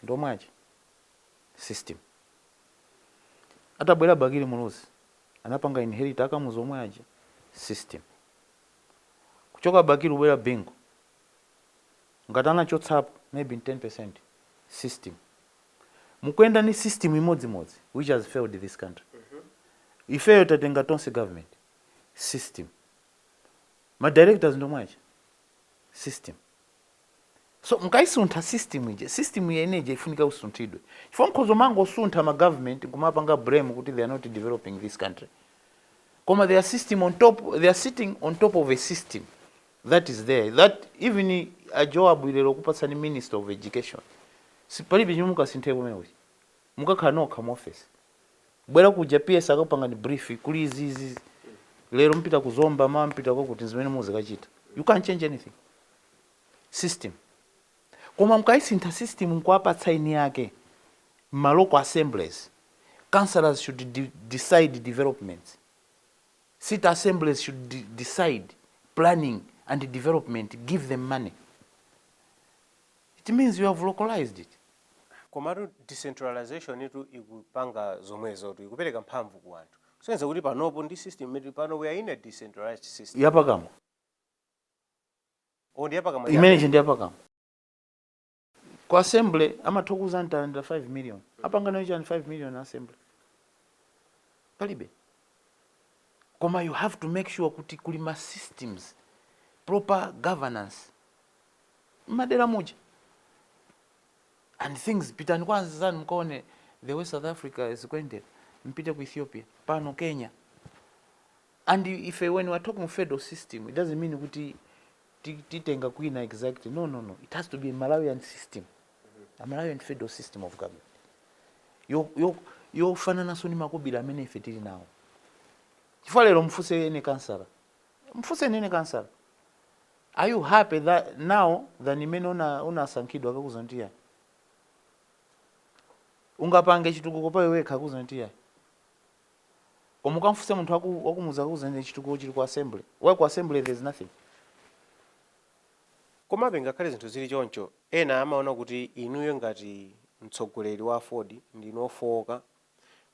S1: Ndi omwe aja? System. Atabwera Bakili Muluzi, anapanga inherit a Kamuzu omwe aja? System. Kuchoka Bakili kubwera Bingu, ngati anachotsapo maybe ndi 10%? System. Mukuyenda ndi system imodzimodzi which has failed this country. Ifeyo tatenga Tonse Government. System. ma directors ndi omwe aja a system so mkaisuntha system ija system imene ija ifunika usunthidwe chifukwa mukhoza kumangosuntha ma government nkumapanga blame kuti they are not developing this country koma their system on top they are sitting on top of a system that is there that even a Joab lero kupatsani minister of education palibe chomwe mukasinthe komweko chifukwa mukakhala nokha mu office bwera kuja PS akakupangani brief kuli izi izi izi. lero mupita ku zomba mawa mupita kwakuti zimene muzikachita you can't change anything system koma mkaisintha system nkuwapatsa eni ake ma local assemblies councillors should de decide developments city assemblies should de decide planning and development give them money it means you have localized it Komatu decentralization tu ikupanga zomwezotu, ikupereka mphamvu ku anthu. Kusonyeza kuti panopo ndi system imene ili pano we are in a decentralized system. yapakamwa? Oh, ndi yapakamwa chabe. Imene ija ndi yapakamwa. Ku assembly amatha kukuuzani talandira 5 million. Apanga nayo chani 5 million a assembly? Palibe. Koma you have to make sure kuti kuli ma systems, proper governance mmadela muja and things pitani kwa anzanu mukaone the way south africa zikuendela mpite ku ethiopia pano kenya and ife when we are talking of federal system it doesn't mean kuti ti- titenga kwina exactly no no no it has to be a malawian system a malawian federal system of government yo- yo- yofanananso ndi makobiri amene ife tili nawo chifukwa lero mfunseni kansala Mfunseni kansala are you happy tha, now than imene una, unasankhidwa akakuuza kuti ayi ungapange chitukuko pa iwe wekha akuuza kuti ayi koma ukamfunse munthu waku, wakumudzi akuuza kuti chitukuko chili ku assembly why ku assembly there is nothing Komabe ngakhale zinthu zili choncho, ena amaona kuti inuyo ngati mtsogoleri wa aford ndinu ofowoka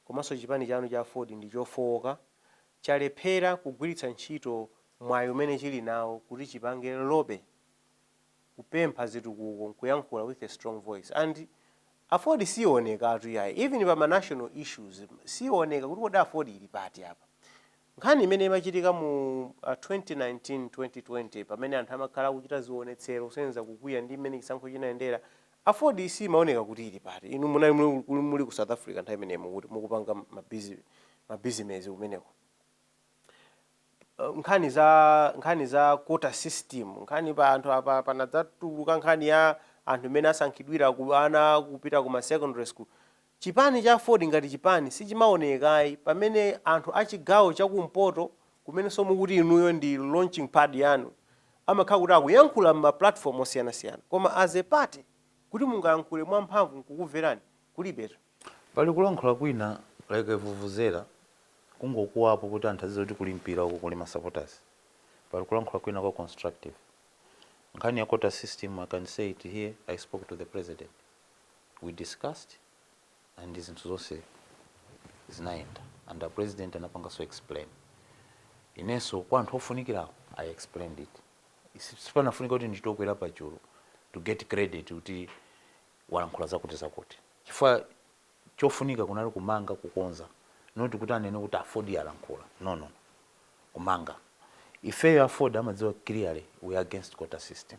S1: komanso chipani chanu cha aford ndi chofowoka, chalephera kugwiritsa ntchito mwayi umene chili nawo kuti chipange lobby, kupempha zitukuko nkuyankhula with a strong voice and aford siwonekatu iyayi even pa ma national issues siwoneka kuti kodi aford ili pati apa. Nkhani imene imachitika mu a 2019, 2020 pamene anthu amakhala akuchita zionetsero kusonyeza kukwiya ndi mmene chisankho chinayendera, aford simaoneka kuti ili pati. Inu munali muli muli ku South Africa nthawi imeneyo mukuti mukupanga ma bizinezi kumeneko. Nkhani za nkhani za quota system, nkhani pa anthu apa panadzatuluka nkhani ya anthu mmene asankhidwira ana kupita ku ma secondary school. Chipani cha aford ngati chipani sichimaonekayi pamene anthu a chigawo cha kumpoto komwenso mukuti inuyo ndi launching pad yanu amakhala kuti akuyankhula mma platform osiyanasiyana koma as a party kuti mungayankhule mwa mphamvu nkukumverani kulibetu. Pali kulankhula kwina like a vuvuzela kungokuwapo kuti anthu azidziwa kuti kuli mpira uku kuli ma supporters pali kulankhula kwina kwa constructive. Nkhani ya quota system I can say it here I spoke to the president. we discussed and zinthu zonse zinayenda and a president anapanganso explain, inenso kwa anthu ofunikirawo i explained it Isi- sipamafunika kuti ndichite kukwera pachulu to get credit kuti walankhula zakuti zakuti chifukwa chofunika kunali kumanga kukonza not kuti anene kuti aford yalankhula no no no kumanga ifeyo aford amadziwa clearly we are against quota system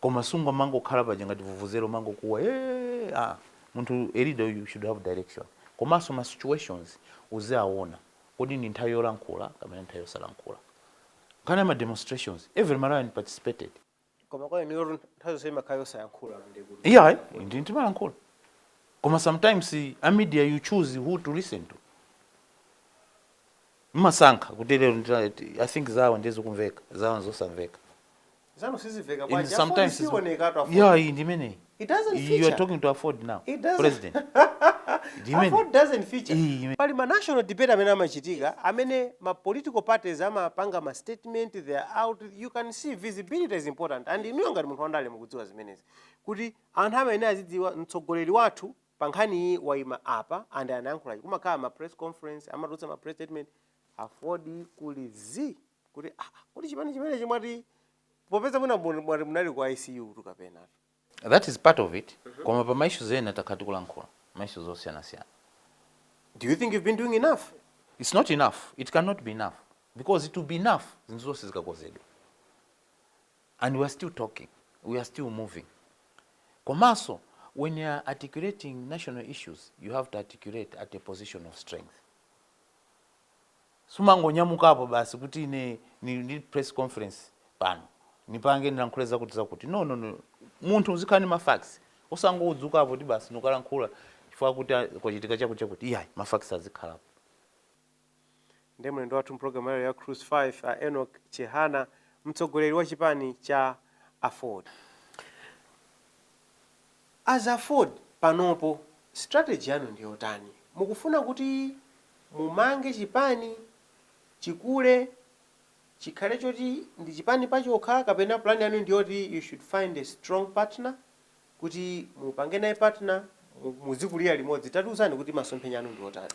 S1: koma sungomangokhala paja ngati vuvuzela umangokuwa ee aa munthu a leader you should have direction komanso ma situations uziawona kodi ndi nthawi yolankhula kapena nthawi yosalankhula nkhani ya ma demonstrations every Malawian participated Koma kwa inuyo nthawi zonse imakhala yosayankhula ndiye kuti. iyayi ndi ndimalankhula koma sometimes a media you choose who to listen to mmasankha kuti lero ndita- i think zawo ndiye zikumveka zawo nzosamveka zanu sizimveka And bwanji aford sometimes it's- siyiwonekatu aford yeah iyi ndimeneyi it doesn't you are feature talking to aford now It doesn't- president Ndimene. Aford doesn't feature. Iyi, imene. pali ma national debate amene amachitika amene ma political parties amapanga ma statement they are out you can see visibility is important and inuyo ngati munthu wandale mukudziwa zimenezi kuti anthu amayenera azidziwa mtsogoleri wathu pa nkhani iyi wayima apa and anayankhula chi kumakhala ma press conference amatulutsa ma press statement aford kuli zi kuti ah kodi chipani chimenechi mwati popeza mwina mu- mwati munali ku icu tu kapena that is part of it koma pa ma issues ena takhala tikulankhula ma issues osiyanasiyana do you think you've been doing enough it's not enough it cannot be enough because it will be enough zinthu zonse zikakonzedwa and we are still talking we are still moving komanso when you are articulating national issues you have to articulate at a position of strength sumangonyamukapo basi kuti ine nili ndi press conference pano nipange nilankhule zakuti zakuti no no no munthu uzikhala ndi ma facts osangodzukapo kuti basi nikalankhula chifukwa kuti ah, kwachitika chakuti chakuti iyayi ma facts azikhalapo ndi mlendo wathu mpulogalamu ya lero ya cruise 5 a enok chihana mtsogoleri wa chipani cha aford As Aford panopo strategy yanu ndiyotani? Mukufuna kuti mumange chipani chikule chikhale choti ndi chipani pachokha kapena plan yanu ndiyoti you should find a strong partner kuti mupange naye partner muzikulira limodzi tatiuzani kuti masomphenya anu ndiotani?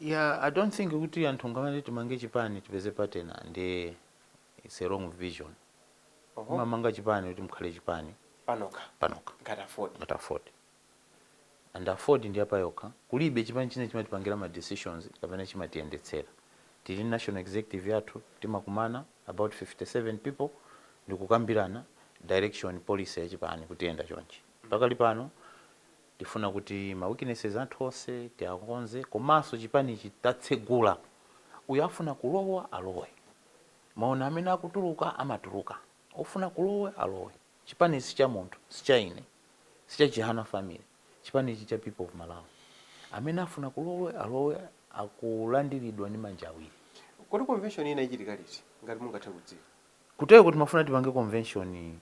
S1: Yeah, I don't think kuti anthu ngamati timange chipani tipeze partner ndi. It's a wrong vision. Oho. Mumamanga chipani kuti mukhale chipani Panokha. panokha Ngati Aford. ngati Aford. And Aford ndi yapayokha. Kulibe chipani china chimatipangira ma decisions kapena chimatiyendetsera. Tili ndi national executive yathu timakumana about 57 people ndikukambirana direction policy ya chipani kuti iyenda chonchi. Pakali pano tifuna kuti ma weaknesses athu onse tiakonze komanso chipanichi tatsegula. Uyu afuna kulowa alowe. Mwaona, amene akutuluka, amatuluka. Wofuna kulowa, alowe. Chipani ichi si cha munthu, si cha ine, si cha Chihana family. Chipani ichi cha people of Malawi. Amene afuna kulowa, alowe, akulandiridwa ndi manja awiri. Kodi convention ina ichitika liti ngati mungathe kudziwa? Kutereku timafuna tipange convention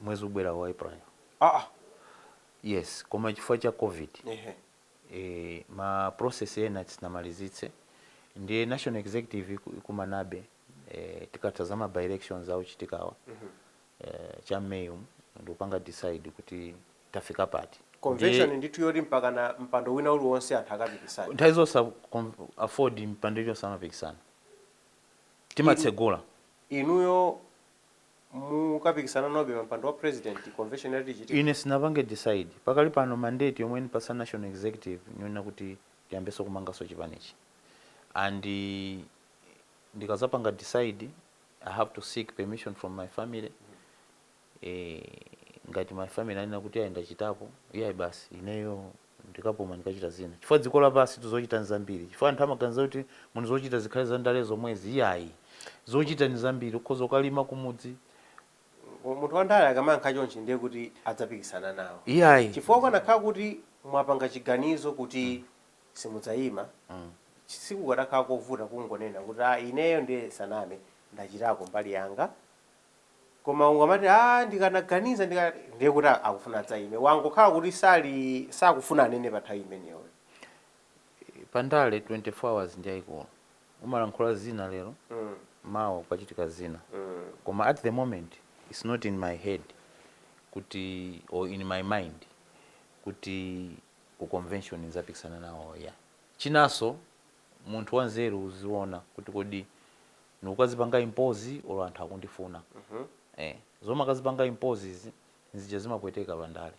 S1: mwezi ubwerawu wa April. Aah! Yes, koma chifukwa cha Covid. Ehe. Eee ma process ena sitinamalizitse ndiye National Executive ikumanabe ee tikatha za ma by-elections akuchitikawa ee cha m'May umu ndikupanga decide kuti tafika pati ndiye. Convention ndithu yoti mpakana mpando wina uliwonse anthu akapikisane? Nthawi zonse a Aford mpando iliyonse amapikisana, timatsegula. Inuyo mukapikisana nawobe pa mpando wa president convention yathu ichitike. Ine sinapange decide, pakali pano mandate yomwe anipatsa National Executive niyonena kuti tiyambenso kumanganso chipanichi and ndikazapanga decide I have to seek permission from my family eeh ngati my family anena kuti iyayi ndachitapo iyayi basi ineyo ndikapuma ndikachita zina chifukwa dziko lapansitu zochita nizambiri chifukwa anthu amaganiza kuti munthu zochita zikhale za ndale zomwezi iyayi zochita nizambiri ukhoza kukalima kumudzi munthu wandale akamayankha chonchi ndiye kuti adzapikisana nawo iyayi chifukwa kukanakhala kuti mwapanga chiganizo kuti simudzayima chi- sikukadakhala kovuta kungonena kuti ah ineyo ndiye ndisaname ndachitako mbali yanga koma ukamati aah ndikanaganiza ndika ndiye kuti akufuna adzayime wangokhala kuti sali sakufuna anene pa nthawi imeneyo. Eee pandale 24 hours ndiyaikulu umalankhula zina lero mawa kukachitika zina koma at the moment its not in my head kuti or in my mind kuti ku convention ndidzapikisana nawo iya. Chinanso munthu wanzeru uziona kuti kodi ndikukazipanga impose olo anthu akundifuna ee zomakazipanga impose izi nzimene zimapweteka pa ndale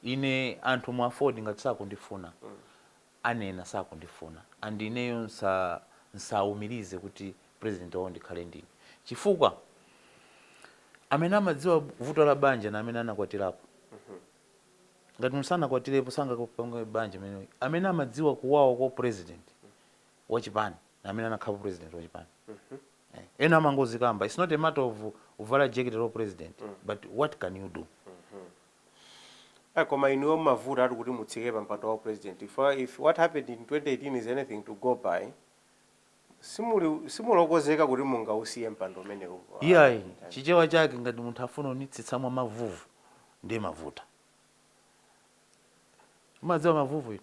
S1: ine anthu mu AFORD ngati sakundifuna anena sakundifuna and ineyo nsa nsaumirize kuti president wawo ndikhale ndine chifukwa amene amadziwa vuto la banja ndi amene anakwatirapo ngati munthu sanakwatirepo sangapange banja amene amene amadziwa kuwawa kwa u president wa chipani amene anakhalapo president wa chipani ena amangozikamba its not a matter of uvala jekete la upresident but what can you do Eh, koma inuyo mmavuta ati kuti mutsike pa mpando wa president if, if what happened in 2018 is anything to go by simuli simuli okonzeka kuti mungausiye mpando umenewu iyayi chichewa chake ngati munthu afuna unitsitsa mwa mavuvu ndiye mmavuta umadziwa mavuvu inu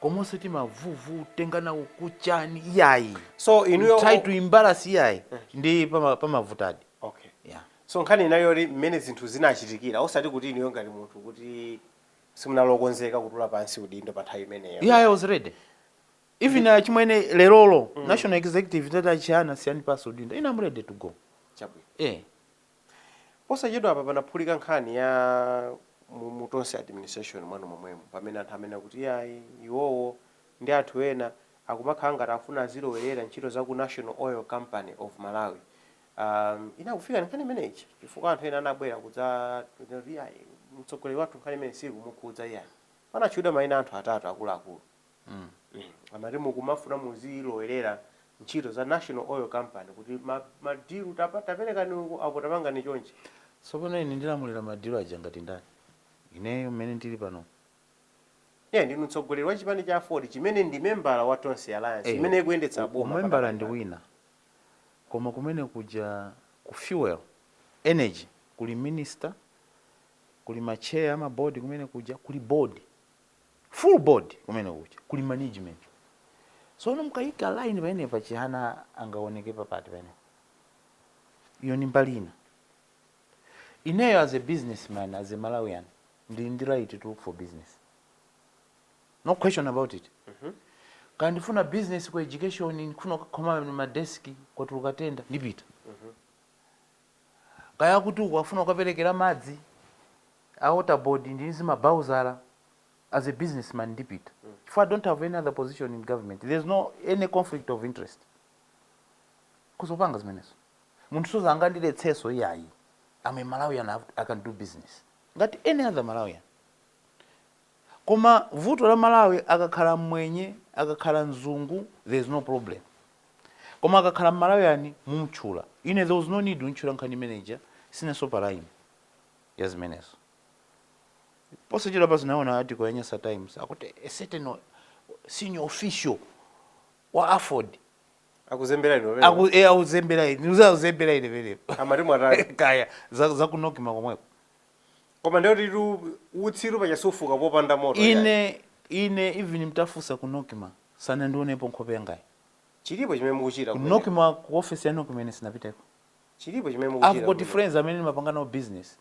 S1: koma osati mavuvu tenga nawo kuchani iyayi so inuyo try to embarrass iyayi ndi pama- pamavutadi okay yeah. so nkhani inayo yoti mmene zinthu zinachitikira osati kuti inuyo ngati munthu kuti simunali okonzeka kutula pansi udindo pa nthawi imeneyo yeah, I was ready even uh, achimwene lerolo national executive itati a Chihana siyani pansi udindo ine am ready to go chabwino eh Posachedwapa panaphulika nkhani ya mu mu Tonse administration mwanu momwemo pamene anthu amanena kuti iyayi iwowo ndi anthu ena akumakhala ngati akufuna azilowerera ntchito za ku National Oil Company of Malawi. Um, inakufikani nkhani imene ija chifukwa anthu ena anabwera kudzanena kuti iyayi mtsogoleri wathu nkhani imene siikumukhudza iyayi. Panatchulidwa maina a anthu atatu akuluakulu. Amati mukumafuna muzilowerera ntchito za National Oil Company kuti ma ma deal tape taperekani uku apo tapangani chonchi. Tsopano ine ndilamulira ma deal aja ngati ndani? Ineyo mmene ndili panomu? Eya ndinu mtsogoleri wa chipani cha AFORD chimene ndi membala wa Tonse Alliance Eya imene ikuyendetsa boma pakadali pano. umembala ndi wina koma kumene kuja ku fuel, energy kuli minister, kuli ma chair a ma board kumene kuja, kuli board. full board kumene kuja kuli management sono mkayika line pamenepa Chihana angawoneke papati pamenepo iyo ndi mbali ina ineyo as a businessman as a malawian ndili ndi right to look for business no question about it kaya ndifuna business ku education ndifuna kukhoma madeski kwatuluka tenda ndipita Kaya akuti uku akufuna kukaperekera madzi a water board ndili ndi zimabhawuzala as a business man ndipita chifukwa I don't have any other position in government, there's no any conflict of interest. Ukhoza kupanga zimenezo. Munthu suzangondiletsanso iyayi. I'm a Malawian, I have to, I can do business ngati any other Malawian. Koma vuto la Malawi akakhala mmwenye akakhala mzungu there is no problem koma akakhala mmalawian mumtchula ine there was no need kuntchula nkhani imene ija sinenso pa line ya zimenezo. Posachedwapa ndinaona article ya Nyasa Times akuti a certain senior official wa aford Akuzembera inu pamenepo. aku e akuzembera inu akuzembera inu pamenepo Amati mwatani? kaya za za ku NOCMA komweko. Koma ndiyetu utsitu paja sufuka popanda moto iyayi. Ine ine even mtafusa ku nocma sanandionepo nkhope yangayi. Chilipo chimene mukuchita Ku kumeneko. nocma ku office ya nocma ine sindinapiteko. Chilipo chimene I've mukuchita got kumeneko. friends amene ndimapanga nawo business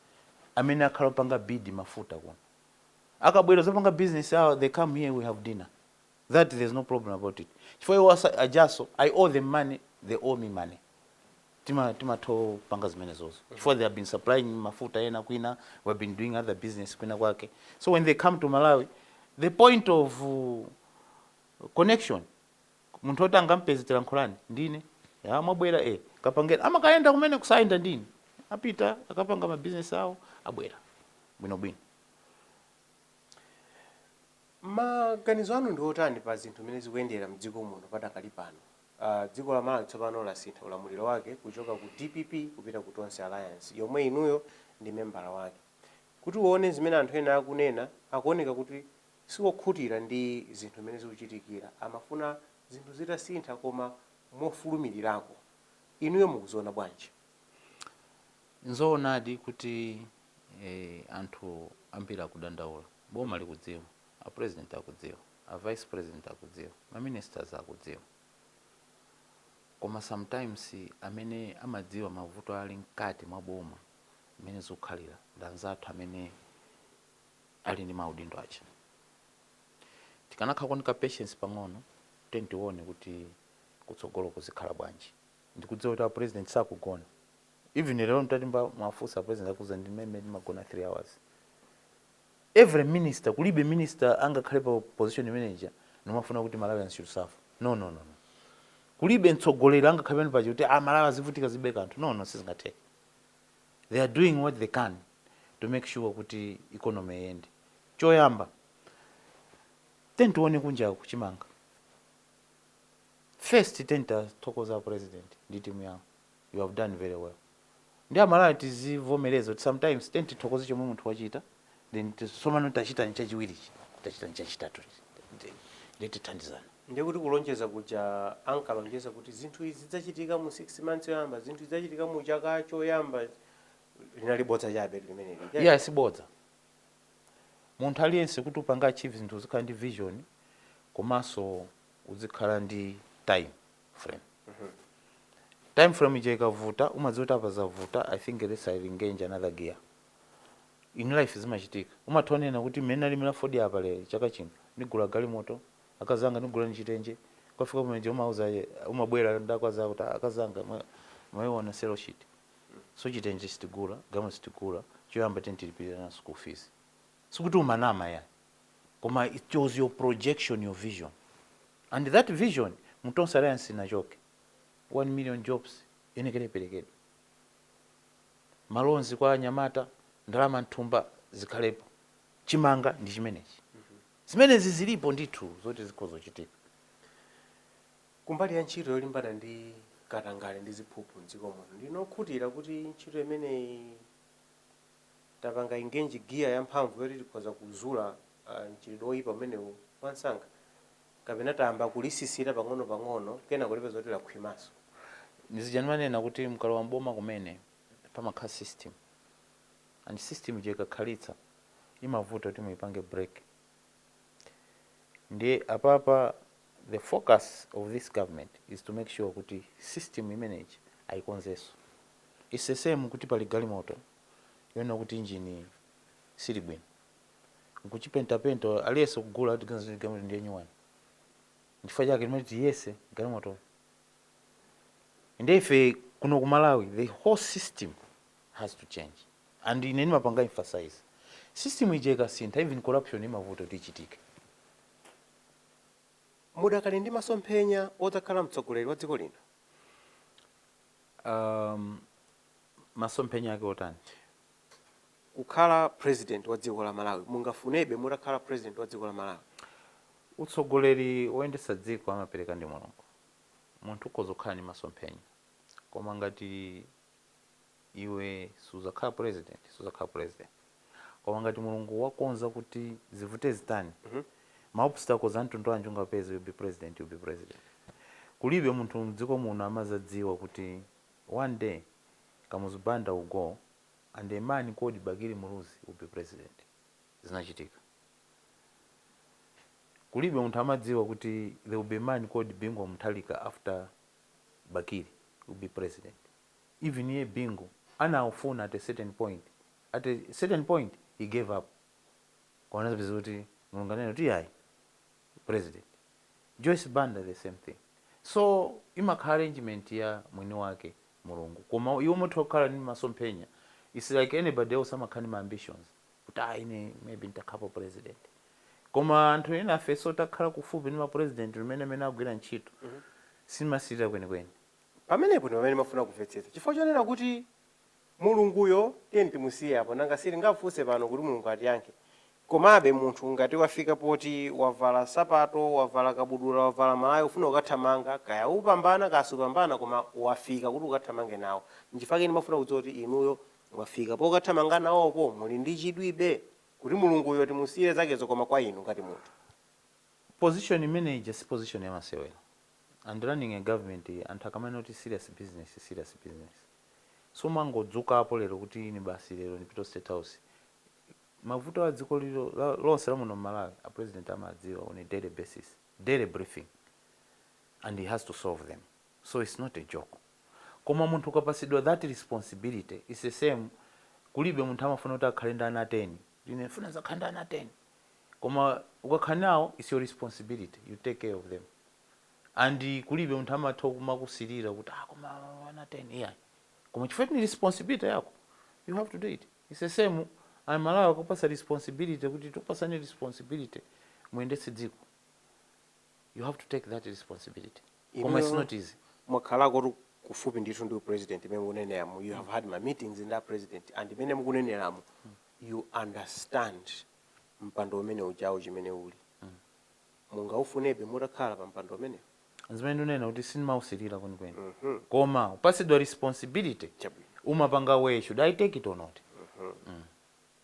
S1: amene akhala opanga bid mafuta kuno. Akabwera ozapanga business yawo they come here we have dinner. that there's no problem about it chifukwa iwo aja- ajaso i owe them money they owe me money tima timatho panga zimenezozo chifukwa they have been supplying mafuta ena kwina we have been doing other business kwina kwake so when they come to malawi the point of uh, connection munthu oti angampeze tilankhulane ndine ya mwabwera e kapangeni amakayenda kumene kusayenda ndine apita akapanga mabizinesi awo abwera bwinobwino Maganizo anu ndi otani pa zinthu mmene zikuyendera mdziko muno padakali pano? Dziko la Malawi tsopano lasintha ulamuliro wake kuchoka ku dpp kupita ku Tonse Alliance yomwe inuyo ndi membala wake. Kuti uone zimene anthu ena akunena, akuoneka kuti siwokhutira ndi zinthu mmene zikuchitikira. Amafuna zinthu zitasintha koma mofulumilirako. Inuyo mukuziona bwanji? Nzoonadi kuti Eeeh anthu ambiri akudandaula, boma likudziwa, a president akudziwa, a vice president akudziwa, ma ministers akudziwa koma sometimes amene amadziwa mavuto ali mkati mwa boma mmene zikukhalira ndi anzathu amene ali ndi maudindo aja. Tikanakhalako ndi ka patience pang'ono tiye tione kuti kutsogoloku zikhala bwanji. Ndikudziwa kuti a president sakugona. even lero mtati mwafunsa president akuuzani mwina ndimagona 3 hours every minister kulibe minister angakhale pa position imene ija nkumafuna kuti malawians should suffer no no no no kulibe mtsogoleri angakhale pamene paja kuti a malawi azivutika zibe kanthu no no sizingatheke they are doing what they can to make sure kuti economy yende choyamba tiyeni tione kunjaku chimanga first tiyeni tiwathokoze president ndi timu yawo you have done very well nde amalawi tizivomeleza kuti sometimes tiye tithokoze chomwe munthu wachita then tsopano tachitani chachiwirichi tachitani chachitatuchi nde tithandizana ndiye kuti kulonjeza kuja ankalonjeza kuti zinthu izi zidzachitika mu 6 months yoyamba zinthu zidzachitika mu chaka choyamba linali bodza chabe limeneli ayi sibodza munthu aliyense kuti upange achieve zinthu uzikhala ndi vision komanso uzikhala ndi time frame time frame ija ikavuta umadziwa kuti apa zavuta i think ndi engage another gear in life zimachitika umatha unena kuti mmene nalimira fodi apa lero chaka chino ndigula galimoto akazanga ndigula ni chitenje kwafika pameneja umauza ye- umabwera kwa akazako kuti akazanga mwa- mwaiona sale sheet so chitenje sitigula galimoto sitigula choyamba timulipirire mwana school fees sikuti umanama yayi koma it was your projection your vision and that vision mu tonse alliance sinachoke 1 million jobs yoyenekera iperekedwe ma loans kwa anyamata ndalama m'thumba zikhalepo chimanga ndi chimenechi zimenezi zilipo ndithu zoti zikhoza kuchitika kumbali ya ntchito yolimbana ndi katangale ndi ziphuphu mdziko muno ndinokhutira kuti ntchito imeneyi tapanga engage gear yamphamvu yoti tikhoza kuzula mchitidwe oyipa umenewu mwansanga kapena tayamba kulisisita pang'ono pang'ono kenako tipeza kuti lakhwimanso. Ndizija ndimanena kuti mukalowa m'boma kumene pamakhala system and system ija ikakhalitsa imavuta kuti muyipange break ndiye apapa The focus of this government is to make sure kuti system imenei ayikonzenso. Its the same kuti pali galimoto yonena kuti engine siili bwino nkuchipenta penta aliyense kugula tiganiza kuti galimoto ndiye nyuwani nchifukwa chake timati tiyese galimotoyo ndiye ife kuno ku Malawi the whole system has to change and ine ndimapanga emphasize system ija ikasintha even corruption imavuta kuti ichitike. mudakali ndi masomphenya odzakhala mtsogoleri wa dziko lino? Um, masomphenya ake otani? Kukhala president wa dziko la Malawi, mungafunebe mutakhala president wa dziko la Malawi? Utsogoleri woyendetsa dziko amapereka ndi Mulungu. Munthu ukhoza kukhala ndi masomphenya, koma ngati iwe sudzakhala president sudzakhala president koma ngati mulungu wakonza kuti zivute zitani ma obstacles amtundu wanji ungapeze you'll be president you'll be president kulibe munthu mdziko muno amazadziwa kuti one day kamuzu banda will go and a man called bakili muluzi will be president zinachitika kulibe munthu amadziwa kuti there will be a man called bingu wa mutharika after Bakili will be president even iye Bingu anawufuna at a certain point at a certain point he gave up koma anadzapeza kuti Mulungu ananena kuti iyayi president Joyce Banda the same thing so imakhala arrangement ya mwini wake Mulungu koma iwe umatha kukhala ndi masomphenya its like anybody else amakhala ndi ma ambitions kuti ayi ine maybe ntakhapo president koma anthu enafe so takhala kufupi ndi ma president mmene amagwirira ntchito sindimasirira kwenikweni Pamenepo ndi pamene ndimafuna kumvetsetsa. Chifukwa chonena kuti Mulunguyo tiyeni timusiye apo, nanga sitingamfunse pano kuti Mulungu atiyankhe. Komabe munthu ngati wafika poti wavala nsapato, wavala kabudula, wavala malaya ufuna kukathamanga, kaya upambana kaya supambana koma wafika kuti ukathamange nawo. Nchifukwa chake ndimafuna kudziwa kuti inuyo Mwafika pokathamanga nawoko? Muli ndi chidwibe kuti Mulunguyo timusiyire zakezo koma kwa inu ngati munthu? Position imene ija si position yamasewera and running a government anthu akamanena kuti serious business serious business sumangodzukapo lero kuti ine basi lero ndipite ku state house mavuto a dziko lino lonse la muno mmalawi a president amadziwa on a daily basis daily briefing and he has to solve them. so its not a joke koma munthu ukapatsidwa that responsibility its the same kulibe munthu amafuna kuti akhale ndi ana 10 kuti ine ndifuna ndidzakhale ndi ana 10 koma ukakhala nawo its your responsibility you take care of them and kulibe munthu amatha kumakusilira kuti ah koma ana 10 iyayi koma chifukwa kuti ndi responsibility yako you have to do it its the same amalawi akupatsa responsibility kuti tikupatsani responsibility muyendetse dziko you have to take that responsibility koma its not easy. mwakhalakotu kufupi ndithu ndi upresident mmene mukuneneramo you have had many meetings ndi apresident and mmene mukuneneramo you understand mpando umene ujawo chimene uli mungaufunebe mutakhala pa mpando umenewo zimene ndinena kuti sindimausirira kwenikweni mhm. koma ukapatsidwa responsibility umapanga weigh should i take it or not mhm. mm.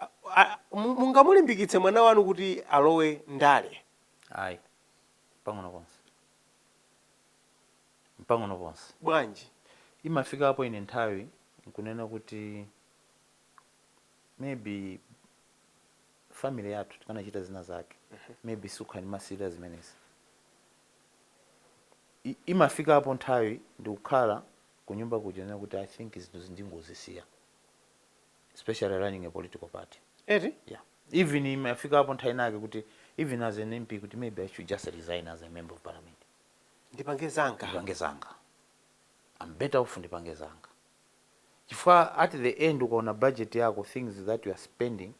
S1: A, a, mu- mungamulimbikitse mwana wanu kuti alowe ndale? Ayi, mpang'ono pomwe, mpang'ono pomwe. Bwanji? Imafikapo ine nthawi nkunena kuti maybe family yathu tikanachita zina zake maybe sindimasirira zimenezi. I- Imafikapo nthawi ndikukhala kunyumba kuja nkunena kuti I think zinthu izi ndingozisiya. especially running a political party eti yeah even imafikapo nthawi inake kuti even as an mp kuti maybe i should just resign as a member of parliament ndipange zanga ndipange zanga i'm better off ndipange zanga chifukwa at the end ukaona budget yako things that you are spending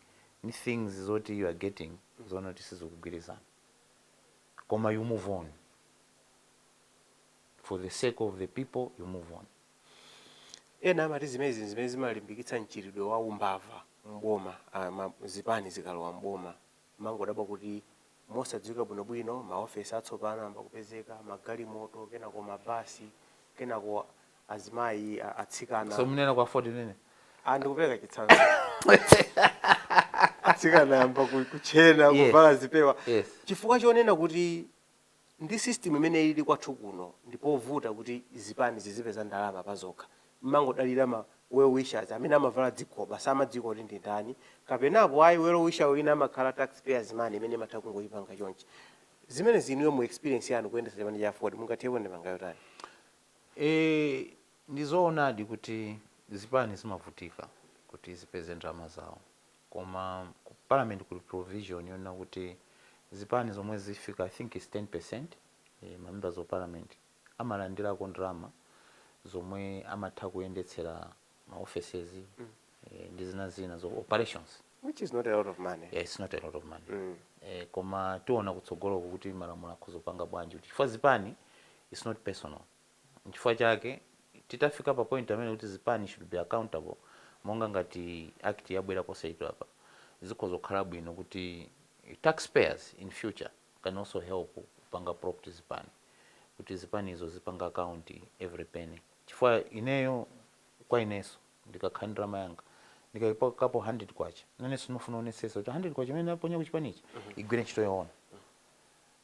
S1: ni things zoti you are getting zoona kuti sizikugwirizana koma you move on for the sake of the people you move on Ena amati zimenezi n'zimene zimalimbikitsa mchitidwe wa umbava m'boma. Zipani zikalowa m'boma, timangodabwa kuti mosadziwika bwinobwino, maofesi atsopano ayamba kupezeka, magalimoto, kenako mabasi, kenako azimayi, atsikana. Simukunena za AFORD inu? Ah, ndikupereka chitsanzo. Atsikana ayamba kutchena, kuvala zipewa. Chifukwa chonena kuti. Ndi mmene system imene ilili kwathu kuno n'povuta kuti zipani zizipeza ndalama pazokha. Mmangodalira ma well wishers amene amavala zigoba samadziwika kuti ndi ndani kapena apo ayi well wisher wina amakhala tax payers money imene imatha kungochipanga chonchi. Zimenezi inuyo mu experience yanu kuyendetsa chipani cha aford mungathirepo ndemanga yotani? Eee ndizoonadi kuti zipani zimavutika kuti zipeze ndalama zawo. koma ku parliament kuli provision yonena kuti zipani zomwe zafika i think its 10% ma members of parliament amalandilako ndalama zomwe amatha kuyendetsera ma offices ndi zina zina za operations which is not a lot of money yeah, its not a lot of money mm. eh, koma tiona kutsogoloku kuti malamulo akhoza kupanga bwanji kuti chifukwa zipani its not personal Nchifukwa chake titafika pa point pamene kuti zipani should be accountable monga ngati act yabwera posachedwapa zikhoza kukhala bwino kuti tax payers in future can also help kupanga prop up zipani kuti zipanizo zizipanga account every penny chifukwa ineyo kwa ineso ndikakhala ndi ndalama yanga ndikaikapo K100 nanenso ndimafuna ndionetsetse kuti K100 imene ndaponya kuchipani ija igwire ntchito yoona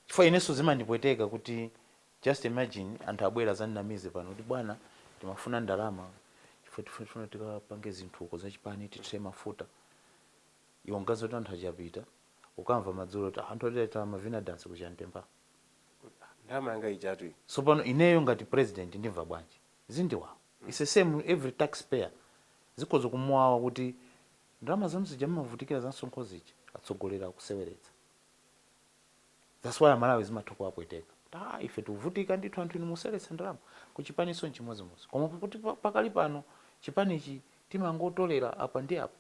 S1: chifukwa ineso zimandipweteka kuti Just imagine anthu abwera azandinamize pano kuti bwana timafuna ndalama chifukwa tifuna tikapange zinthu uko zachipani tithire mafuta iwe n'kumati anthu apita ukamva madzulo kuti anthu oti akukavina dance ku Chantempha ndalama yanga ijatu iyi sopano ineyo ngati president ndimva bwanji zindiwawa it's the same every taxpayer zikhoza kumuwawa kuti ndalama zanu zija mmavutikira za msonkho zija atsogoleri akuseweretsa. thats why aMalawi zimatha kuwapweteka kuti aa ife tikuvutika ndithu anthu inu museweretsa ndalama. kuchipaniso nchimozimozi koma pakuti pakali pano chipanichi timangotolera apa ndi apa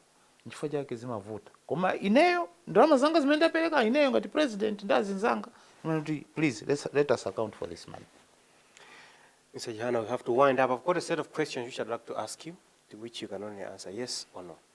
S1: nchifukwa chake zimavuta koma ineyo ndalama zanga zimene ndapereka ineyo ngati president ndi anzanga timanena kuti please let's, let us account for this money Mr. Chihana, we have to wind up. I've got a set of questions which I'd like to ask you, to which you can only answer yes or no.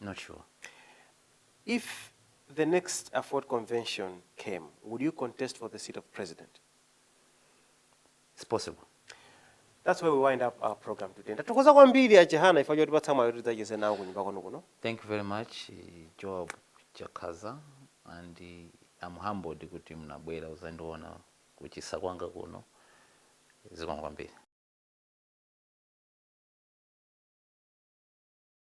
S1: not sure if the next AFORD convention came would you contest for the seat of president it's possible That's where we wind up our program today. Tathokoza kwambiri a Chihana chifukwa chotipatsa mwayi oti tidzacheze nanu kunyumba kwanu kuno. Thank you very much eh, Joab Chakhaza and eh, I'm humbled kuti mnabwera uzandiona kuchisa kwanga kuno zikomo kwambiri.